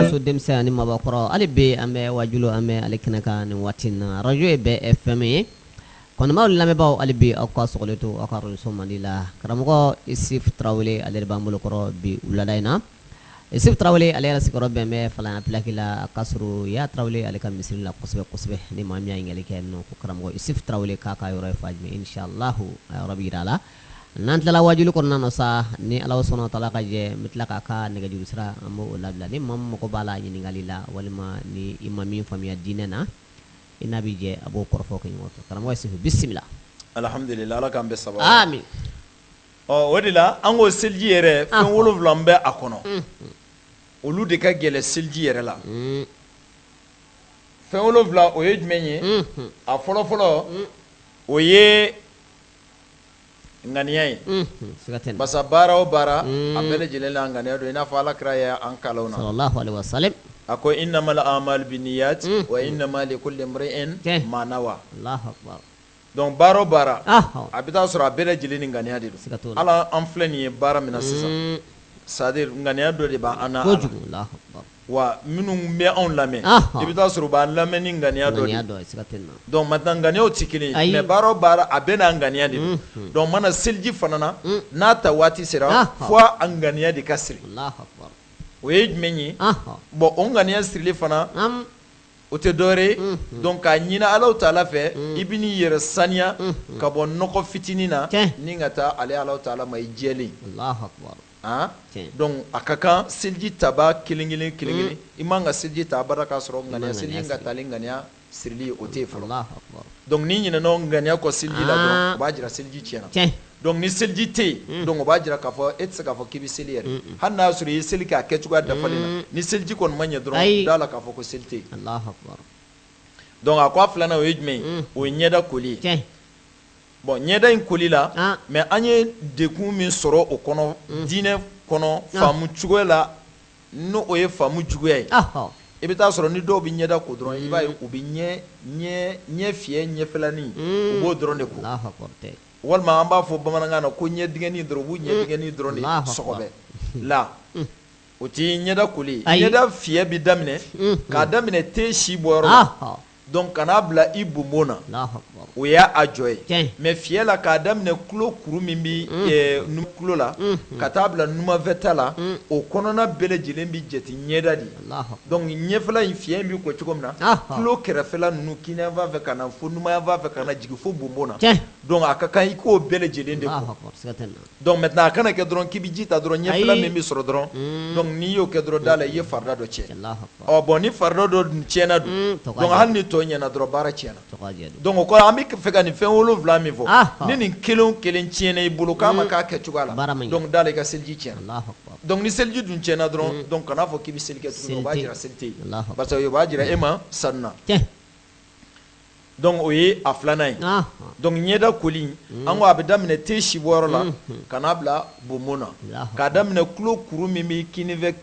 muso denmisɛn ani mabakɔrɔ hali bi an bɛ wajulu an bɛ ale kɛnɛ kan nin waati in na arajo ye bɛɛ FM ye kanubaaw ni lamɛnbaaw hali bi aw ka sɔgɔlen to aw ka arajo mandi la karamɔgɔ isif tarawele ale de b'an bolo kɔrɔ bi wulada in na Isufu Tarawele ale yɛrɛ sigiyɔrɔ bɛn bɛ Falana pilaki la, a ka surun Yaya Tarawele ale ka misiri la kosɛbɛ kosɛbɛ. Ni maa min y'a ɲininkali kɛ nin ko karamɔgɔ Isufu Tarawele k'a ka yɔrɔ ye fan jumɛn? Inch'Allahu a yɔrɔ bɛ jira a la. N'an tilala waajuli kɔnɔna na sa, ni Alahu subahana watala ka jɛn, n bɛ tila k'a ka nɛgɛjuru sira an bɛ o labila. Ni maa min mago b'a la ɲininkali la, walima ni i ma min faamuya diinɛ na, i n'a bɛ jɛ a b'o kɔrɔfɔ kɛ ɲɔgɔn fɛ. Karamɔgɔ Isufu bisimila. Alhamdulila Ala k'an bɛn sababa ma. Aami. ɔ o de la an ko seliji yɛrɛ fɛn Ahɔ. wolonwula min bɛ a kɔnɔ Unhun. olu de ka gɛlɛn seliji yɛrɛ la Mm, fɛn wolonwula o ye jumɛn ye mhm, a fɔlɔfɔlɔ o ye ŋaniya ye mhm, siga tɛ nin na. parce que baara o baara a Mm. bɛɛ lajɛlen la ŋaniya don i n'a fɔ ala kira ye an kalan o na sallallahu alaihi wasallam a ko innamal a'malu binniyat Mm. wa innama likulli imri'in Tiɲɛ. ma nawa allahu akbar Donc baara o baara a bɛ taa sɔrɔ a bɛɛ lajɛlen ni ŋaniya de don ala an filɛ nin ye baara min na sisan c'est-à-dire ŋaniya dɔ de b' an na ala wa minnu bɛ anw lamɛn i bɛ taa sɔrɔ u b' an lamɛn ni ŋaniya dɔ de donc maintenant ŋaniyaw tɛ kelen ye mais baara o baara a bɛɛ n'a ŋaniya de don donc mana seliji fana na n'a ta waati sera fo a ŋaniya de ka siri o ye jumɛn ye bon o ŋaniya sirili fana o tɛ dɔwɛrɛ ye donc k'a ɲini Alahu Taala fɛ i bɛ n'i yɛrɛ saniya ka bɔ nɔgɔ fitinin na n'i ka taa ale Alahu Taala ma i jɛlen donc a ka kan seliji taba kelen kelen kelen i man ka seliji ta abada k'a sɔrɔ ŋaniya seliji ka tali ŋaniya sirili o tɛ fɔlɔ donc n'i ɲinɛna o ŋaniya kɔ seliji la dɔrɔn o b'a jira seliji tiɲɛna Donc ni seliji tɛ yen donc o b'a jira k'a fɔ e tɛ se k'a fɔ k'i bɛ seli yɛrɛ hali n'a sɔrɔ i ye seli k'a kɛcogoya dafalen na ni seliji kɔni ma ɲɛ dɔrɔn d'a la k'a fɔ ko seli tɛ yen donc a ko a filanan o ye jumɛn o ye ɲɛda koli ye bon ɲɛda in koli la mais an ye dekun min sɔrɔ o kɔnɔ diinɛ kɔnɔ faamu cogoya la n' o ye faamu juguya ye i bɛ taa sɔrɔ ni dɔw bɛ ɲɛda ko dɔrɔn i b'a ye u bɛ ɲɛ fiyɛ ɲɛfɛlanin u b'o dɔrɔn de ko walima an b'a fɔ bamanankan na ko ɲɛdingɛnin dɔrɔn u b'u ɲɛdingɛnin dɔrɔn de sɔgɔbɛ la o tɛ ɲɛda koli ye ɲɛda fiyɛ bɛ daminɛ k'a daminɛ te si bɔyɔrɔ donc ka n'a bila i bonbon na o y'a jɔ ye mais fiyɛ la k'a daminɛ tulo kuru min bɛ tulo la ka t'a bila numanfɛta la o kɔnɔna bɛɛ lajɛlen bɛ jate ɲɛda de ye donc ɲɛfɛla in fiyɛ bɛ ko cogo min na tulo kɛrɛfɛla ninnu kininyanfan fɛ ka na fo numanyanfan fɛ ka na jigin fo bonbon na donc a ka kan i k'o bɛɛ lajɛlen de ko donc maintenant a kana kɛ dɔrɔn k'i bɛ ji ta dɔrɔn ɲɛfɛla min bɛ sɔrɔ dɔrɔn hmm. donc n'i y'o kɛ dɔrɔn da la i ye farida dɔ tiɲɛ ɔ bon ni farida dɔ tiɲɛna dun hmm, donc hali ni tɔ ɲɛna dɔrɔn baara tiɲɛna donc o kɔrɔ an bɛ fɛ ka nin fɛn wolonwula min fɔ ni nin kelen o kelen tiɲɛna i bolo k'a ma hmm. k'a kɛcogoya la donc da la i ka seliji tiɲɛna. Donc ni seliji dun tiɲɛna dɔrɔn donc kan'a fɔ k'i bɛ seli kɛ tuguni o b'a jira seli tɛ yen parce que o b'a jira e ma sanuna donc o ye a filanan ye donc ɲɛda koli an ko a bɛ daminɛ te si bɔyɔrɔ la ka n'a bila bonbon na k'a daminɛ tulo kuru min bɛ kininfɛ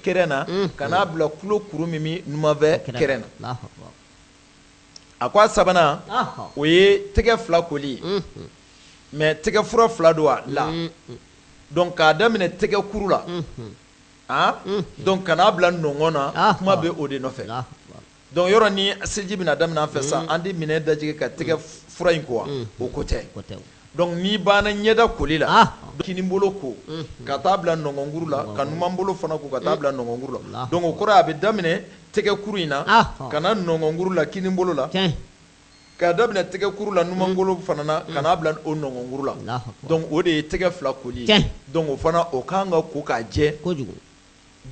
kɛrɛ na ka n'a bila tulo kuru min bɛ numanfɛ kɛrɛ na a ko a sabanan o ye tɛgɛ fila koli mais tɛgɛ fura fila don a la donc k'a daminɛ tɛgɛkuru la donc ka n'a bila nɔnkɔn na kuma bɛ o de nɔfɛ donc yɔrɔ ni seliji bɛna daminɛ an fɛ sa an tɛ minɛn dajigi ka tɛgɛ fura in ko wa o ko tɛ Donc n'i banna ɲɛda koli la kininbolo ko ka taa a bila nɔnkɔnkuru la ka numanbolo fana ko ka taa a bila nɔnkɔnkuru la donc o kɔrɔ a bɛ daminɛ tɛgɛkuru in na ka na nɔnkɔnkuru la kininbolo la k'a daminɛ tɛgɛkuru la numanbolo fana na ka n'a bila o nɔnkɔnkuru la donc o de ye tɛgɛ fila koli donc o fana o ka kan ka ko k'a jɛ kojugu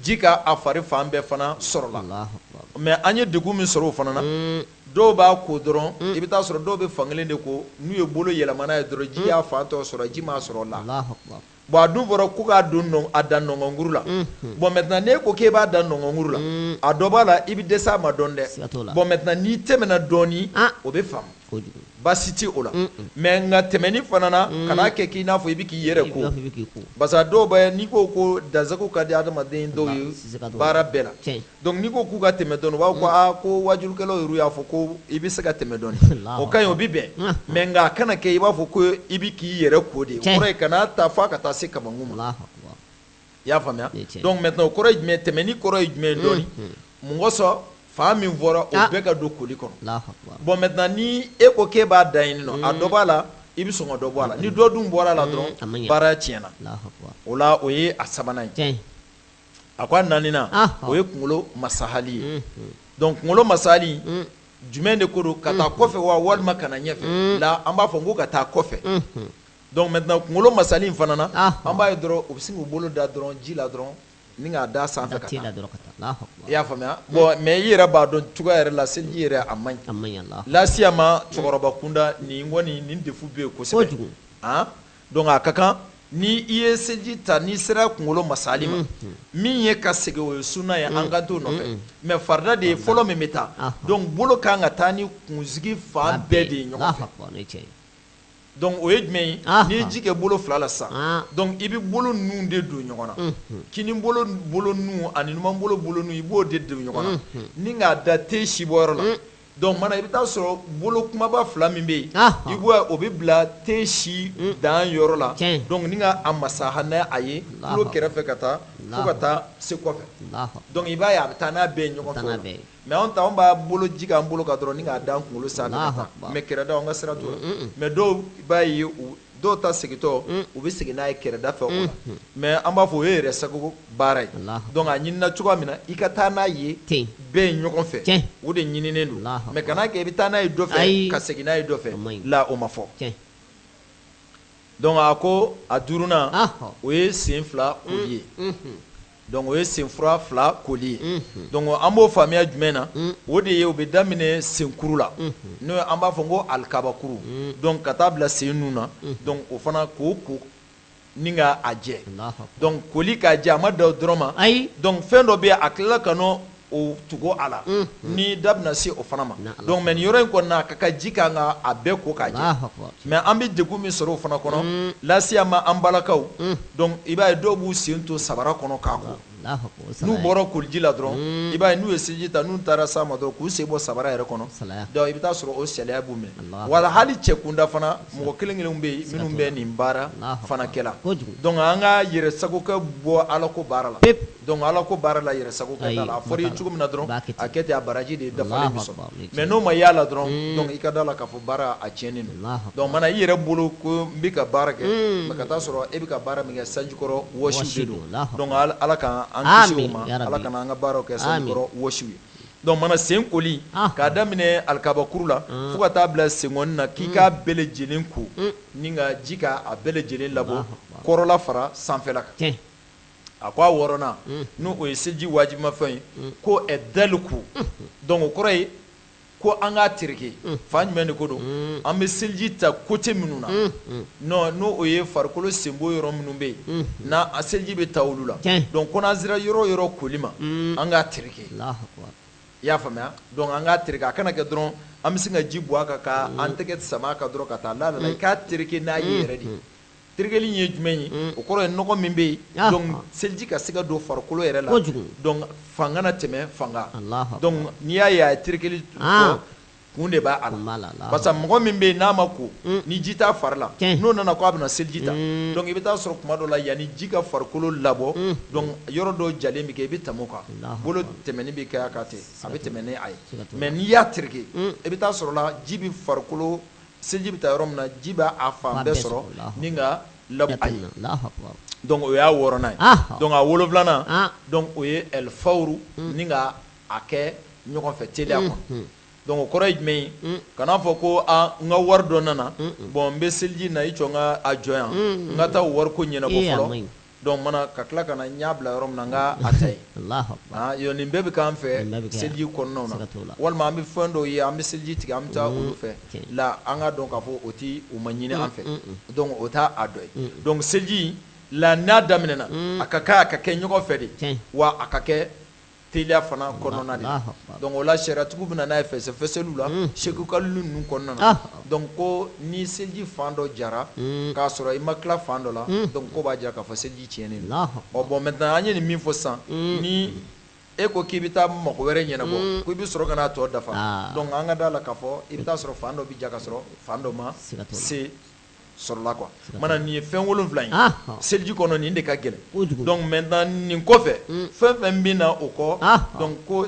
ji ka a fari fan bɛɛ fana sɔrɔ la mais an ye degun min sɔrɔ o fana na dɔw b'a ko dɔrɔn i bɛ taa a sɔrɔ dɔw bɛ fan kelen de ko n'u ye bolo yɛlɛma n'a ye dɔrɔn ji y'a fan tɔ sɔrɔ ji m'a sɔrɔ la bon a dun fɔra ko k'a don a dan nɔnkɔnkuru la bon maintenant n'e ko k'i b'a dan nɔnkɔnkuru la a dɔ b'a la i bɛ dɛsɛ a ma dɔɔnin dɛ bon maintenant n'i tɛmɛna dɔɔnin o bɛ faamu baasi tɛ o la mais nka tɛmɛni fana na kana kɛ k'i n'a fɔ i bɛ k'i yɛrɛ ko parce que a dɔw bɛ n'i ko ko dansago ka di adamaden dɔw ye baara bɛɛ la donc n'i ko k'u ka tɛmɛ dɔɔnin u b'a fɔ ko aa ko waajurukɛlaw yɛrɛ y'a fɔ ko i bɛ se ka tɛmɛ dɔɔnin o ka ɲi o bɛ bɛn mais nka a kana kɛ i b'a fɔ ko i bɛ k'i yɛrɛ ko de o kɔrɔ ye kan'a ta f'a ka taa se kamankun ma. i y'a faamuya donc maintenant o kɔrɔ ye jumɛn tɛmɛni kɔrɔ ye jumɛn dɔɔni mun kosɔn fan min fɔra o ah. bɛɛ ka don koli kɔnɔ bon maintenant ni e ko k'e b'a dan yen nɔ a dɔ b'a la i bɛ sɔn ka dɔ bɔ a la ni dɔ dun bɔra a la dɔrɔn baara tiɲɛna o la o ye a sabanan ye a ko a naaninan ah. o ye kunkolo masahali ye donc kunkolo masahali jumɛn de ko don ka taa kɔfɛ wa walima ka na ɲɛfɛ la an b'a fɔ n ko ka taa kɔfɛ Donc maintenant kunkolo masahali in fana na, ɔnhɔn, an b'a ye dɔrɔn u bɛ sin k'u bolo da dɔrɔn ji la dɔrɔn ni k'a d'a sanfɛ ka taa, Alahu akbar, i y'a faamuya bon mais i yɛrɛ b'a dɔn cogoya yɛrɛ la seliji yɛrɛ a man ɲi, a man ɲi, Alahu akbar, lasiyama cɛkɔrɔba kunda nin kɔni nin défaut bɛ yen kosɛbɛ, kojugu, an donc a ka kan ni i ye seliji ta n'i sera kunkolo masahali ma, unhun, min ye ka segin o ye sunna ye an kan t'o nɔfɛ mais farida de ye fɔlɔ min bɛ taa donc bolo ka kan ka taa ni kunsigi fan bɛɛ de ye ɲɔgɔn fɛ, Alahu akbar, o ye tiɲɛ ye Donc o ye jumɛn ye n'i ye ji kɛ bolo fila la sa donc i bɛ bolo ninnu de don ɲɔgɔn na kininbolo bolo ninnu ani numanbolo bolo ninnu i b'o de don ɲɔgɔn na ni k'a da ten si bɔyɔrɔ la donc maintenant i bɛ taa a sɔrɔ bolo kunbaba fila min bɛ yen i b'o bɛɛ bila ten si danyɔrɔ la donc ni ka a masaha n'a ye tulo kɛrɛfɛ ka taa fo ka taa se kɔfɛ donc i b'a ye a bɛ taa n'a bɛɛ ye ɲɔgɔn mais anw ta anw b'a bolo ji k'an bolo kan dɔrɔn ni k'a da an kunkolo sanfɛ ka taa mais kɛrɛda an ka sira t'o la mais dɔw b'a ye dɔw ta segintɔ u bɛ segin n'a ye kɛrɛda fɛ o la mais an b'a fɔ o ye yɛrɛ sago baara ye donc a ɲinina cogoya min na i ka taa n'a ye bɛɛ ye ɲɔgɔn fɛ o de ɲininen don mais kana kɛ i bɛ taa n'a ye dɔ fɛ ka segin n'a ye dɔ fɛ la o ma fɔ donc a ko a duurunan o ye sen fila koli ye Donc o ye sen fura fila koli ye donc an b'o faamuya jumɛn na o de ye o bɛ daminɛ senkuru la n'o an b'a fɔ ko alikabakuru donc ka taa bila sen nun na donc o fana k'o ko ni ka a jɛ donc koli k'a jɛ a ma dan o dɔrɔn ma ayi donc fɛn dɔ bɛ yen a tilala ka o tugu a la ni da bɛna se o fana ma donc mais nin yɔrɔ in kɔnɔna a ka kan ji ka kan ka a bɛɛ ko k'a jɛ mais an bɛ degun min sɔrɔ o fana kɔnɔ lasiyama an balakaw donc i b'a ye dɔw b'u sen to sabara kɔnɔ k'a ko n'u bɔra koliji la dɔrɔn i b'a ye n'u ye seliji ta n'u taara s'a ma dɔrɔn k'u sen bɔ sabara yɛrɛ kɔnɔ donc i bɛ taa sɔrɔ o saliya b'u minɛ wala hali cɛ kunda fana mɔgɔ kelen kelenw bɛ yen minnu bɛ nin baara fana kɛla donc an ka yɛrɛ sagokɛ bɔ Ala ko baara la Donc ala ko baara la yɛrɛ sagokɛ t'a la a fɔra i ye cogo min na dɔrɔn a kɛ ten a baraji de dafalen bɛ sɔrɔ mais n'o ma y'a la dɔrɔn i ka da a la k'a fɔ baara a tiɲɛnen don mana i yɛrɛ bolo ko n bɛ ka baara kɛ mais ka taa sɔrɔ e bɛ ka baara min kɛ sanjikɔrɔ wɔsi don ala k'an kisi o ma ala kana an ka baara kɛ sanjikɔrɔ wɔsi ye donc mana sen koli k'a daminɛ alikabakuru la fo ka taa bila sen na k'i k'a bɛɛ lajɛlen ko ni ka ji k'a bɛɛ lajɛlen labɔ kɔrɔla fara sanfɛla kan a ko a wɔɔrɔnan n' o ye seliji wajibimafɛn ye ko ɛdaliku donc o kɔrɔ ye ko an k'a tereke fan jumɛn de ko don an bɛ seliji ta côté minnu na n' o ye farikolo senbon yɔrɔ minnu bɛ yen n' a seliji bɛ ta olu la donc ko n'an sera yɔrɔ yɔrɔ koli ma an k'a tereke i y'a faamuya donc an k'a tereke a kana kɛ dɔrɔn an bɛ se ka ji bɔn a kan ka an tɛgɛ sama a kan dɔrɔn ka taa la la i k'a tereke n'a ye yɛrɛ de Terekeli ye jumɛn ye o kɔrɔ ye nɔgɔ min bɛ yen donc seliji ka se ka don farikolo yɛrɛ la donc fan kana tɛmɛ fan kan donc n'i y'a ye a ye terekeli kun de b'a la parce que mɔgɔ min bɛ yen n'a ma ko ni ji t'a fari la n'o nana k'a bɛna seliji ta donc i bɛ taa sɔrɔ tuma dɔ la yanni ji ka farikolo labɔ donc yɔrɔ dɔ jalen bɛ kɛ i bɛ tɛmɛ o kan bolo tɛmɛni bɛ kɛ a kan ten a bɛ tɛmɛ n'a ye mais n'i y'a tereke i bɛ taa sɔrɔ la ji bɛ farikolo seliji bɛ ta yɔrɔ min na ji b'a fan bɛɛ sɔrɔ ni ka labɔ a ye donc o y'a wɔɔrɔnan ye donc a wolonfilanan donc o ye ɛlifawuru ni ka a kɛ ɲɔgɔn fɛ teliya kɔnɔ donc o kɔrɔ ye jumɛn ye kana a fɔ ko n ka wari dɔ nana bon n bɛ seliji na i jɔ n ka a jɔ yan n ka taa o wari ko ɲɛnabɔ Donc mana ka tila ka na n y'a bila yɔrɔ min na n ka a ta yen, Alahu akbar, an yɔrɔ nin bɛɛ bɛ k'an fɛ seliji kɔnɔnaw na, siga t'o la, walima an bɛ fɛn dɔw ye an bɛ seliji tigɛ an bɛ taa olu fɛ la an k'a dɔn k'a fɔ o tɛ u ma ɲini an fɛ donc o t'a a dɔ ye donc seliji la n'a daminɛna a ka kan a ka kɛ ɲɔgɔn fɛ de wa a ka kɛ teliya fana kɔnɔna de Alahu akibaru. donc o la sariyatigiw bɛ na n'a ye fɛsɛfɛsɛliw la Mm. Seku Kalilu ninnu kɔnɔna na Ah. donc ko ni seliji fan dɔ jara Mm. k'a sɔrɔ i ma tila fan dɔ la Mm. donc ko b'a jira k'a fɔ seliji tiɲɛnen don Alahu ɔ bon maintenant an ye nin min fɔ sisan Mm. ni e ko k'i bɛ taa mɔgɔ wɛrɛ ɲɛnabɔ Mm. ko i bɛ sɔrɔ ka n'a tɔ dafa Ah. donc an ka d'a la k'a fɔ i bɛ taa sɔrɔ fan dɔ bɛ ja k'a sɔrɔ fan dɔ ma Siga t'o la. se sɔrɔla quoi siga t'a la mana nin ye fɛn 7 ye ɔnhɔn seliji kɔnɔ nin de ka gɛlɛn kojugu donc maintenant nin kɔfɛ un fɛn fɛn bɛ na o kɔ ɔnhɔn donc ko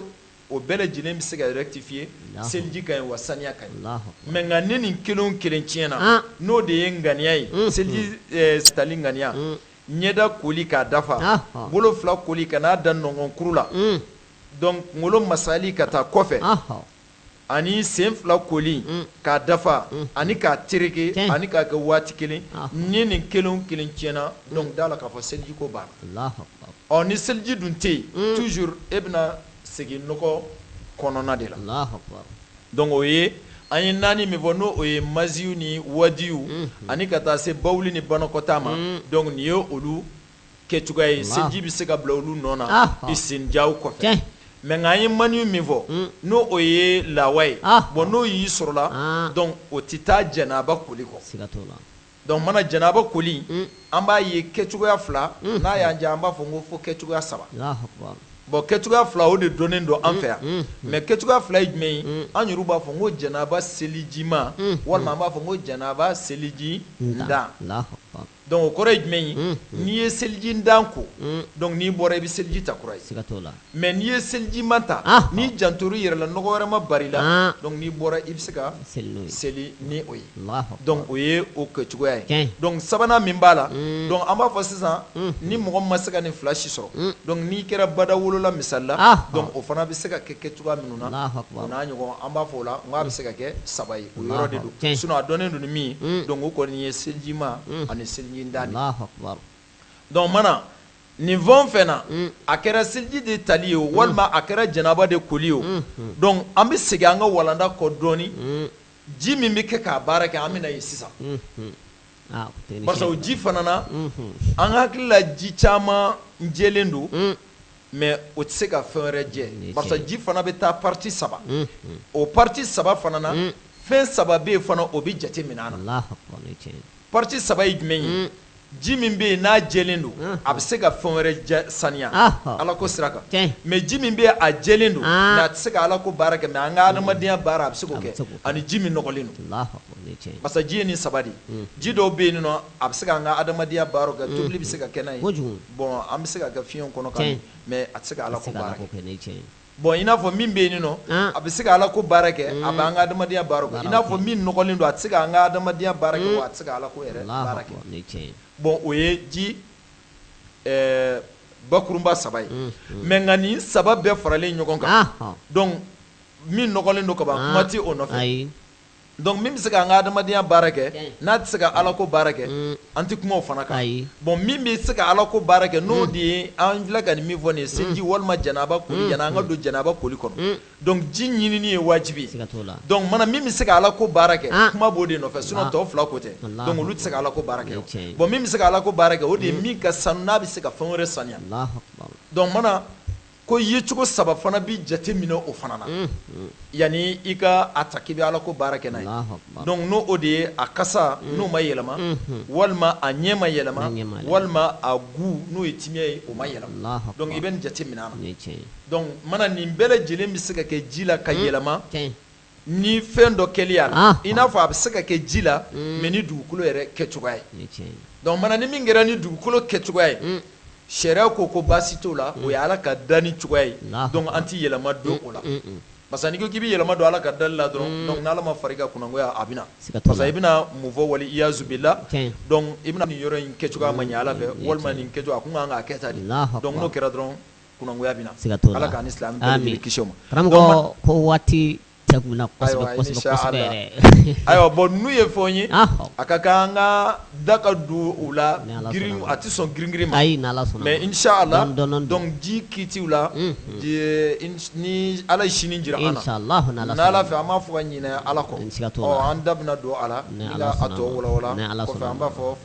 o bɛɛ lajɛlen bɛ se ka rectifier Alahu seliji ka ɲi wa saniya ka ɲi Alahu akbar mais nka ni nin kelen o kelen tiɲɛna n'o de ye ŋaniya ye unhun seliji ɛɛ tali ŋaniya un ɲɛda koli k'a dafa ɔnhɔn bolo 2 koli ka n'a da nɔnkɔnkuru la un donc kunkolo masaali ka taa kɔfɛ ɔnhɔn ani sen fila koli k'a dafa ani k'a terike ani k'a kɛ waati kelen ni nin kelen o kelen tiɲɛna donc d'a la k'a fɔ seliji ko banna ɔ ni seliji dun tɛ yen toujours e bɛna segin nɔgɔ kɔnɔna de la donc o ye an ye naani min fɔ n'o o ye maziw ni wadiw ani ka taa se bawuli ni banakɔtaa ma donc nin ye olu kɛ cogoya ye seliji bɛ se ka bila olu nɔ na istinjaw kɔfɛ mais nka an ye maniw min fɔ n'o o ye lawa ye bon n'o y'i sɔrɔla donc o tɛ taa janaba koli kɔ donc mana janaba koli an b'a ye kɛ cogoya fila n'a y'an diya an b'a fɔ n ko fo kɛ cogoya saba bon kɛ cogoya fila o de donnen don an fɛ yan mais kɛ cogoya fila ye jumɛn ye an yɛrɛ b'a fɔ n ko janaba selijima walima an b'a fɔ ko janaba selijindan Donc o kɔrɔ ye jumɛn ye n'i ye selijindan ko donc n'i bɔra i bɛ seliji ta kura ye mais n'i ye selijima ta n'i jantor'i yɛrɛ la nɔgɔ wɛrɛ ma bar'i la donc n'i bɔra i bɛ se ka seli ni o ye donc o ye o kɛ cogoya ye donc sabanan min b'a la donc an b'a fɔ sisan ni mɔgɔ ma se ka nin fila si sɔrɔ donc n'i kɛra bada wolola misali la donc o fana bɛ se ka kɛ kɛ cogoya minnu na o n'a ɲɔgɔn an b'a fɔ o la n k'a bɛ se ka kɛ saba ye o yɔrɔ de don Tiɲɛ. sinon a dɔnnen don ni min ye donc o kɔni ye selijima ani selijindan de ye Alahu akibar. donc mana nin fɛn o fɛn na a kɛra seliji de tali ye o walima a kɛra janaba de koli ye o donc an bɛ segin an ka walanda kɔ dɔɔni ji min bɛ kɛ k'a baara kɛ an bɛ na yen sisan Ah, o tɛ ni parce que o fiɲɛ- ji fana na an hakili la ji caman jɛlen don mais o tɛ se ka fɛn wɛrɛ jɛ parce ji fana bɛ taa partie saba o partie saba fana na fɛn saba bɛ yen fana o bɛ jate minɛ a na partie saba ye jumɛn ye ji min bɛ yen n'a jɛlen don a bɛ se ka fɛn wɛrɛ saniya ala ko sira kan mais ji min bɛ yen a jɛlen don mais a tɛ se ka ala ko baara kɛ mais an ka adamadenya baara a bɛ se k'o kɛ ani ji min nɔgɔlen don parce ji ye nin saba de ye ji dɔw bɛ yen A bɛ se ka an ka adamadenya baara kɛ tobili bɛ se ka kɛ n'a ye kojugu bon an bɛ se ka kɛ fiɲɛ kɔnɔ ka mais a tɛ se ka Ala ko baara kɛ ni cɛ ye bon i n'a fɔ min bɛ yen nɔ a bɛ se ka Ala ko baara kɛ a bɛ an ka adamadenya baara kɛ i n'a fɔ min nɔgɔlen don a tɛ se ka an ka adamadenya baara kɛ wa a tɛ se ka Ala ko yɛrɛ baara kɛ ni cɛ ye bon o ye ji bakurunba saba ye mais nka nin saba bɛɛ faralen ɲɔgɔn kan donc min nɔgɔlen don ka ban kuma tɛ o nɔfɛ ayi. Donc min bɛ se ka an ka adamadenya baara kɛ n'a tɛ se ka ala ko baara kɛ an tɛ kuma o fana kan bon min bɛ se ka ala ko baara kɛ n'o de ye an filɛ ka nin min fɔ nin ye seliji walima janaba koli yanni an ka don janaba koli kɔnɔ donc ji ɲinini ye wajibi ye donc mana min bɛ se ka ala ko baara kɛ kuma b'o de nɔfɛ sinon tɔ fila ko tɛ donc olu tɛ se ka ala ko baara kɛ bon min bɛ se ka ala ko baara kɛ o de ye min ka sanu n'a bɛ se ka fɛn wɛrɛ saniya donc mana Ko yecogo saba fana bɛ jate minɛ o fana na yanni i ka a ta k'i bɛ ala ko baara kɛ n'a ye donc n' o de ye a kasa n'o ma yɛlɛma walima a ɲɛ ma yɛlɛma walima a goût n'o ye timiya ye o ma yɛlɛma donc i bɛ nin jate minɛ a na donc mana nin bɛɛ lajɛlen bɛ se ka kɛ ji la ka yɛlɛma Ni fɛn dɔ kɛli a la i n'a fɔ a bɛ se ka kɛ ji la mais ni dugukolo yɛrɛ kɛ cogoya ye donc mana ni min kɛra ni dugukolo kɛ cogoya ye sariya ko baasi t'o la o ye ala ka danni cogoya ye donc an tɛ yɛlɛma don o la parce que n'i ko k'i bɛ yɛlɛma don ala ka danni la dɔrɔn donc n'ala ma far'i kan kunangoya a bɛ na parce i bɛna mun fɔ wali iyazu billah donc i bɛna nin yɔrɔ in kɛ cogoya ma ɲɛ ala fɛ walima nin kɛ cogo a kun kan ka kɛ tan donc n'o kɛra dɔrɔn kunangoya bɛ na, siga t'o la, Ala k'an ni silamɛ bɛɛ lajɛlen kisi o ma, amin, karamɔgɔ ko waati dɛgunna kosɛbɛ kosɛbɛ yɛrɛ, ayiwa bon ninnu ye fɛnw ye a ka kan an ka da ka don u la girin a tɛ sɔn girin girin ma, ayi ni Ala sɔnna, mais inchallah donc ji kitiw la ni Ala ye sini jira an na, ni Ala fɛ an m'a fɔ ka ɲinɛ Ala kɔ, siga t'o la, ɔ an da bɛna don a la, ni Ala sɔnna, ka a tɔ walawala, ni Ala sɔnna, kɔfɛ an b'a fɔ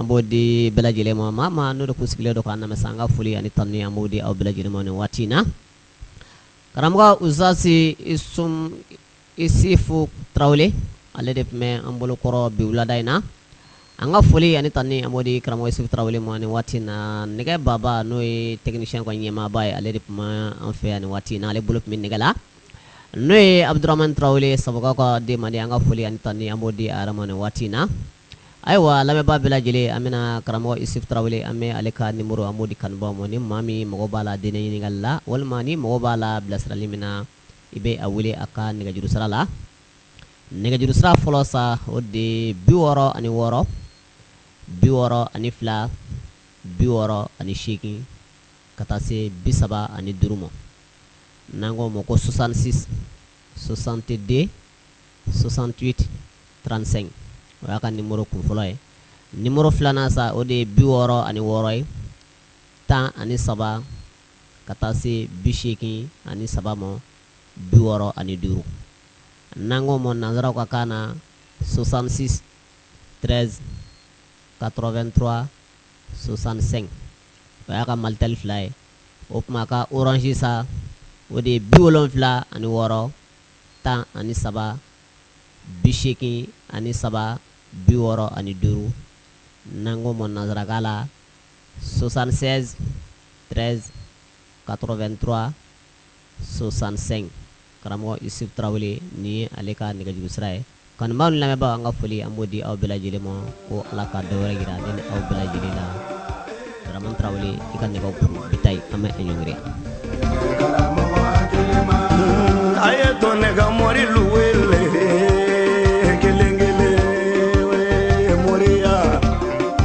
An b'o di bɛɛ lajɛlen ma, maa o maa n'o de tun sigilen don k'an lamɛn sa, an ka foli ani tanuni an b'o di aw bɛɛ lajɛlen ma nin waati in na. Karamɔgɔ Ustazi Isum Isifu Tarawele, ale de tun bɛ an bolo kɔrɔ bi wulada in na. An ka foli ani tanuni an b'o di karamɔgɔ Isufu Tarawele ma nin waati in na. Nɛgɛ baba n'o ye technicien ko ɲɛmaaba ye, ale de tun bɛ an fɛ yan nin waati in na, ale bolo tun bɛ nɛgɛ la. N'o ye Abuduramani Tarawele, Sabagukaw ka den mandi, an ka foli ani tanuni an b'o di a yɛrɛ ma nin waati in na. Ayiwa a lamɛnbaa bɛɛ lajɛlen an bɛna karamɔgɔ Isufu Tarawele an bɛ ale ka numéro an b'o di kanubaaw ma ni maa min mago b'a la diinɛ ɲininkali la walima n'i mago b'a la bilasirali min na i bɛ a wele a ka nɛgɛjuru sira la nɛgɛjuru sira fɔlɔ sa o de ye bi wɔɔrɔ ani wɔɔrɔ bi wɔɔrɔ ani fila bi wɔɔrɔ ani seegin ka taa se bi saba ani duuru ma n'an k'o ma ko 66 62 68 35 o y'a ka numéro kun fɔlɔ ye numéro filanan sa o de ye bi wɔɔrɔ ani wɔɔrɔ ye tan ani saba ka taa se bi seegin ani saba ma bi wɔɔrɔ ani duuru n'an k'o ma nansaraw ka kan na 66 13 83 65 o y'a ka Malitel fila ye o tuma a ka Orange sa o de ye bi wolonwula ani wɔɔrɔ tan ani saba bi seegin ani saba bi wɔɔrɔ ani duuru n'an k'o ma nansarakan la 76 13 83 65 karamɔgɔ Isuf Tarawele nin ye ale ka nɛgɛjuru sira ye. Kanubaaw ni lamɛnbaaw an ka foli an b'o di aw bɛɛ lajɛlen ma ko Ala ka dɔ wɛrɛ jira ne ni aw bɛɛ lajɛlen la Dramane Tarawele i ka ne bi ta an bɛ ɲɔngiri a y'a to ne ka morilu wele kelen kelen mori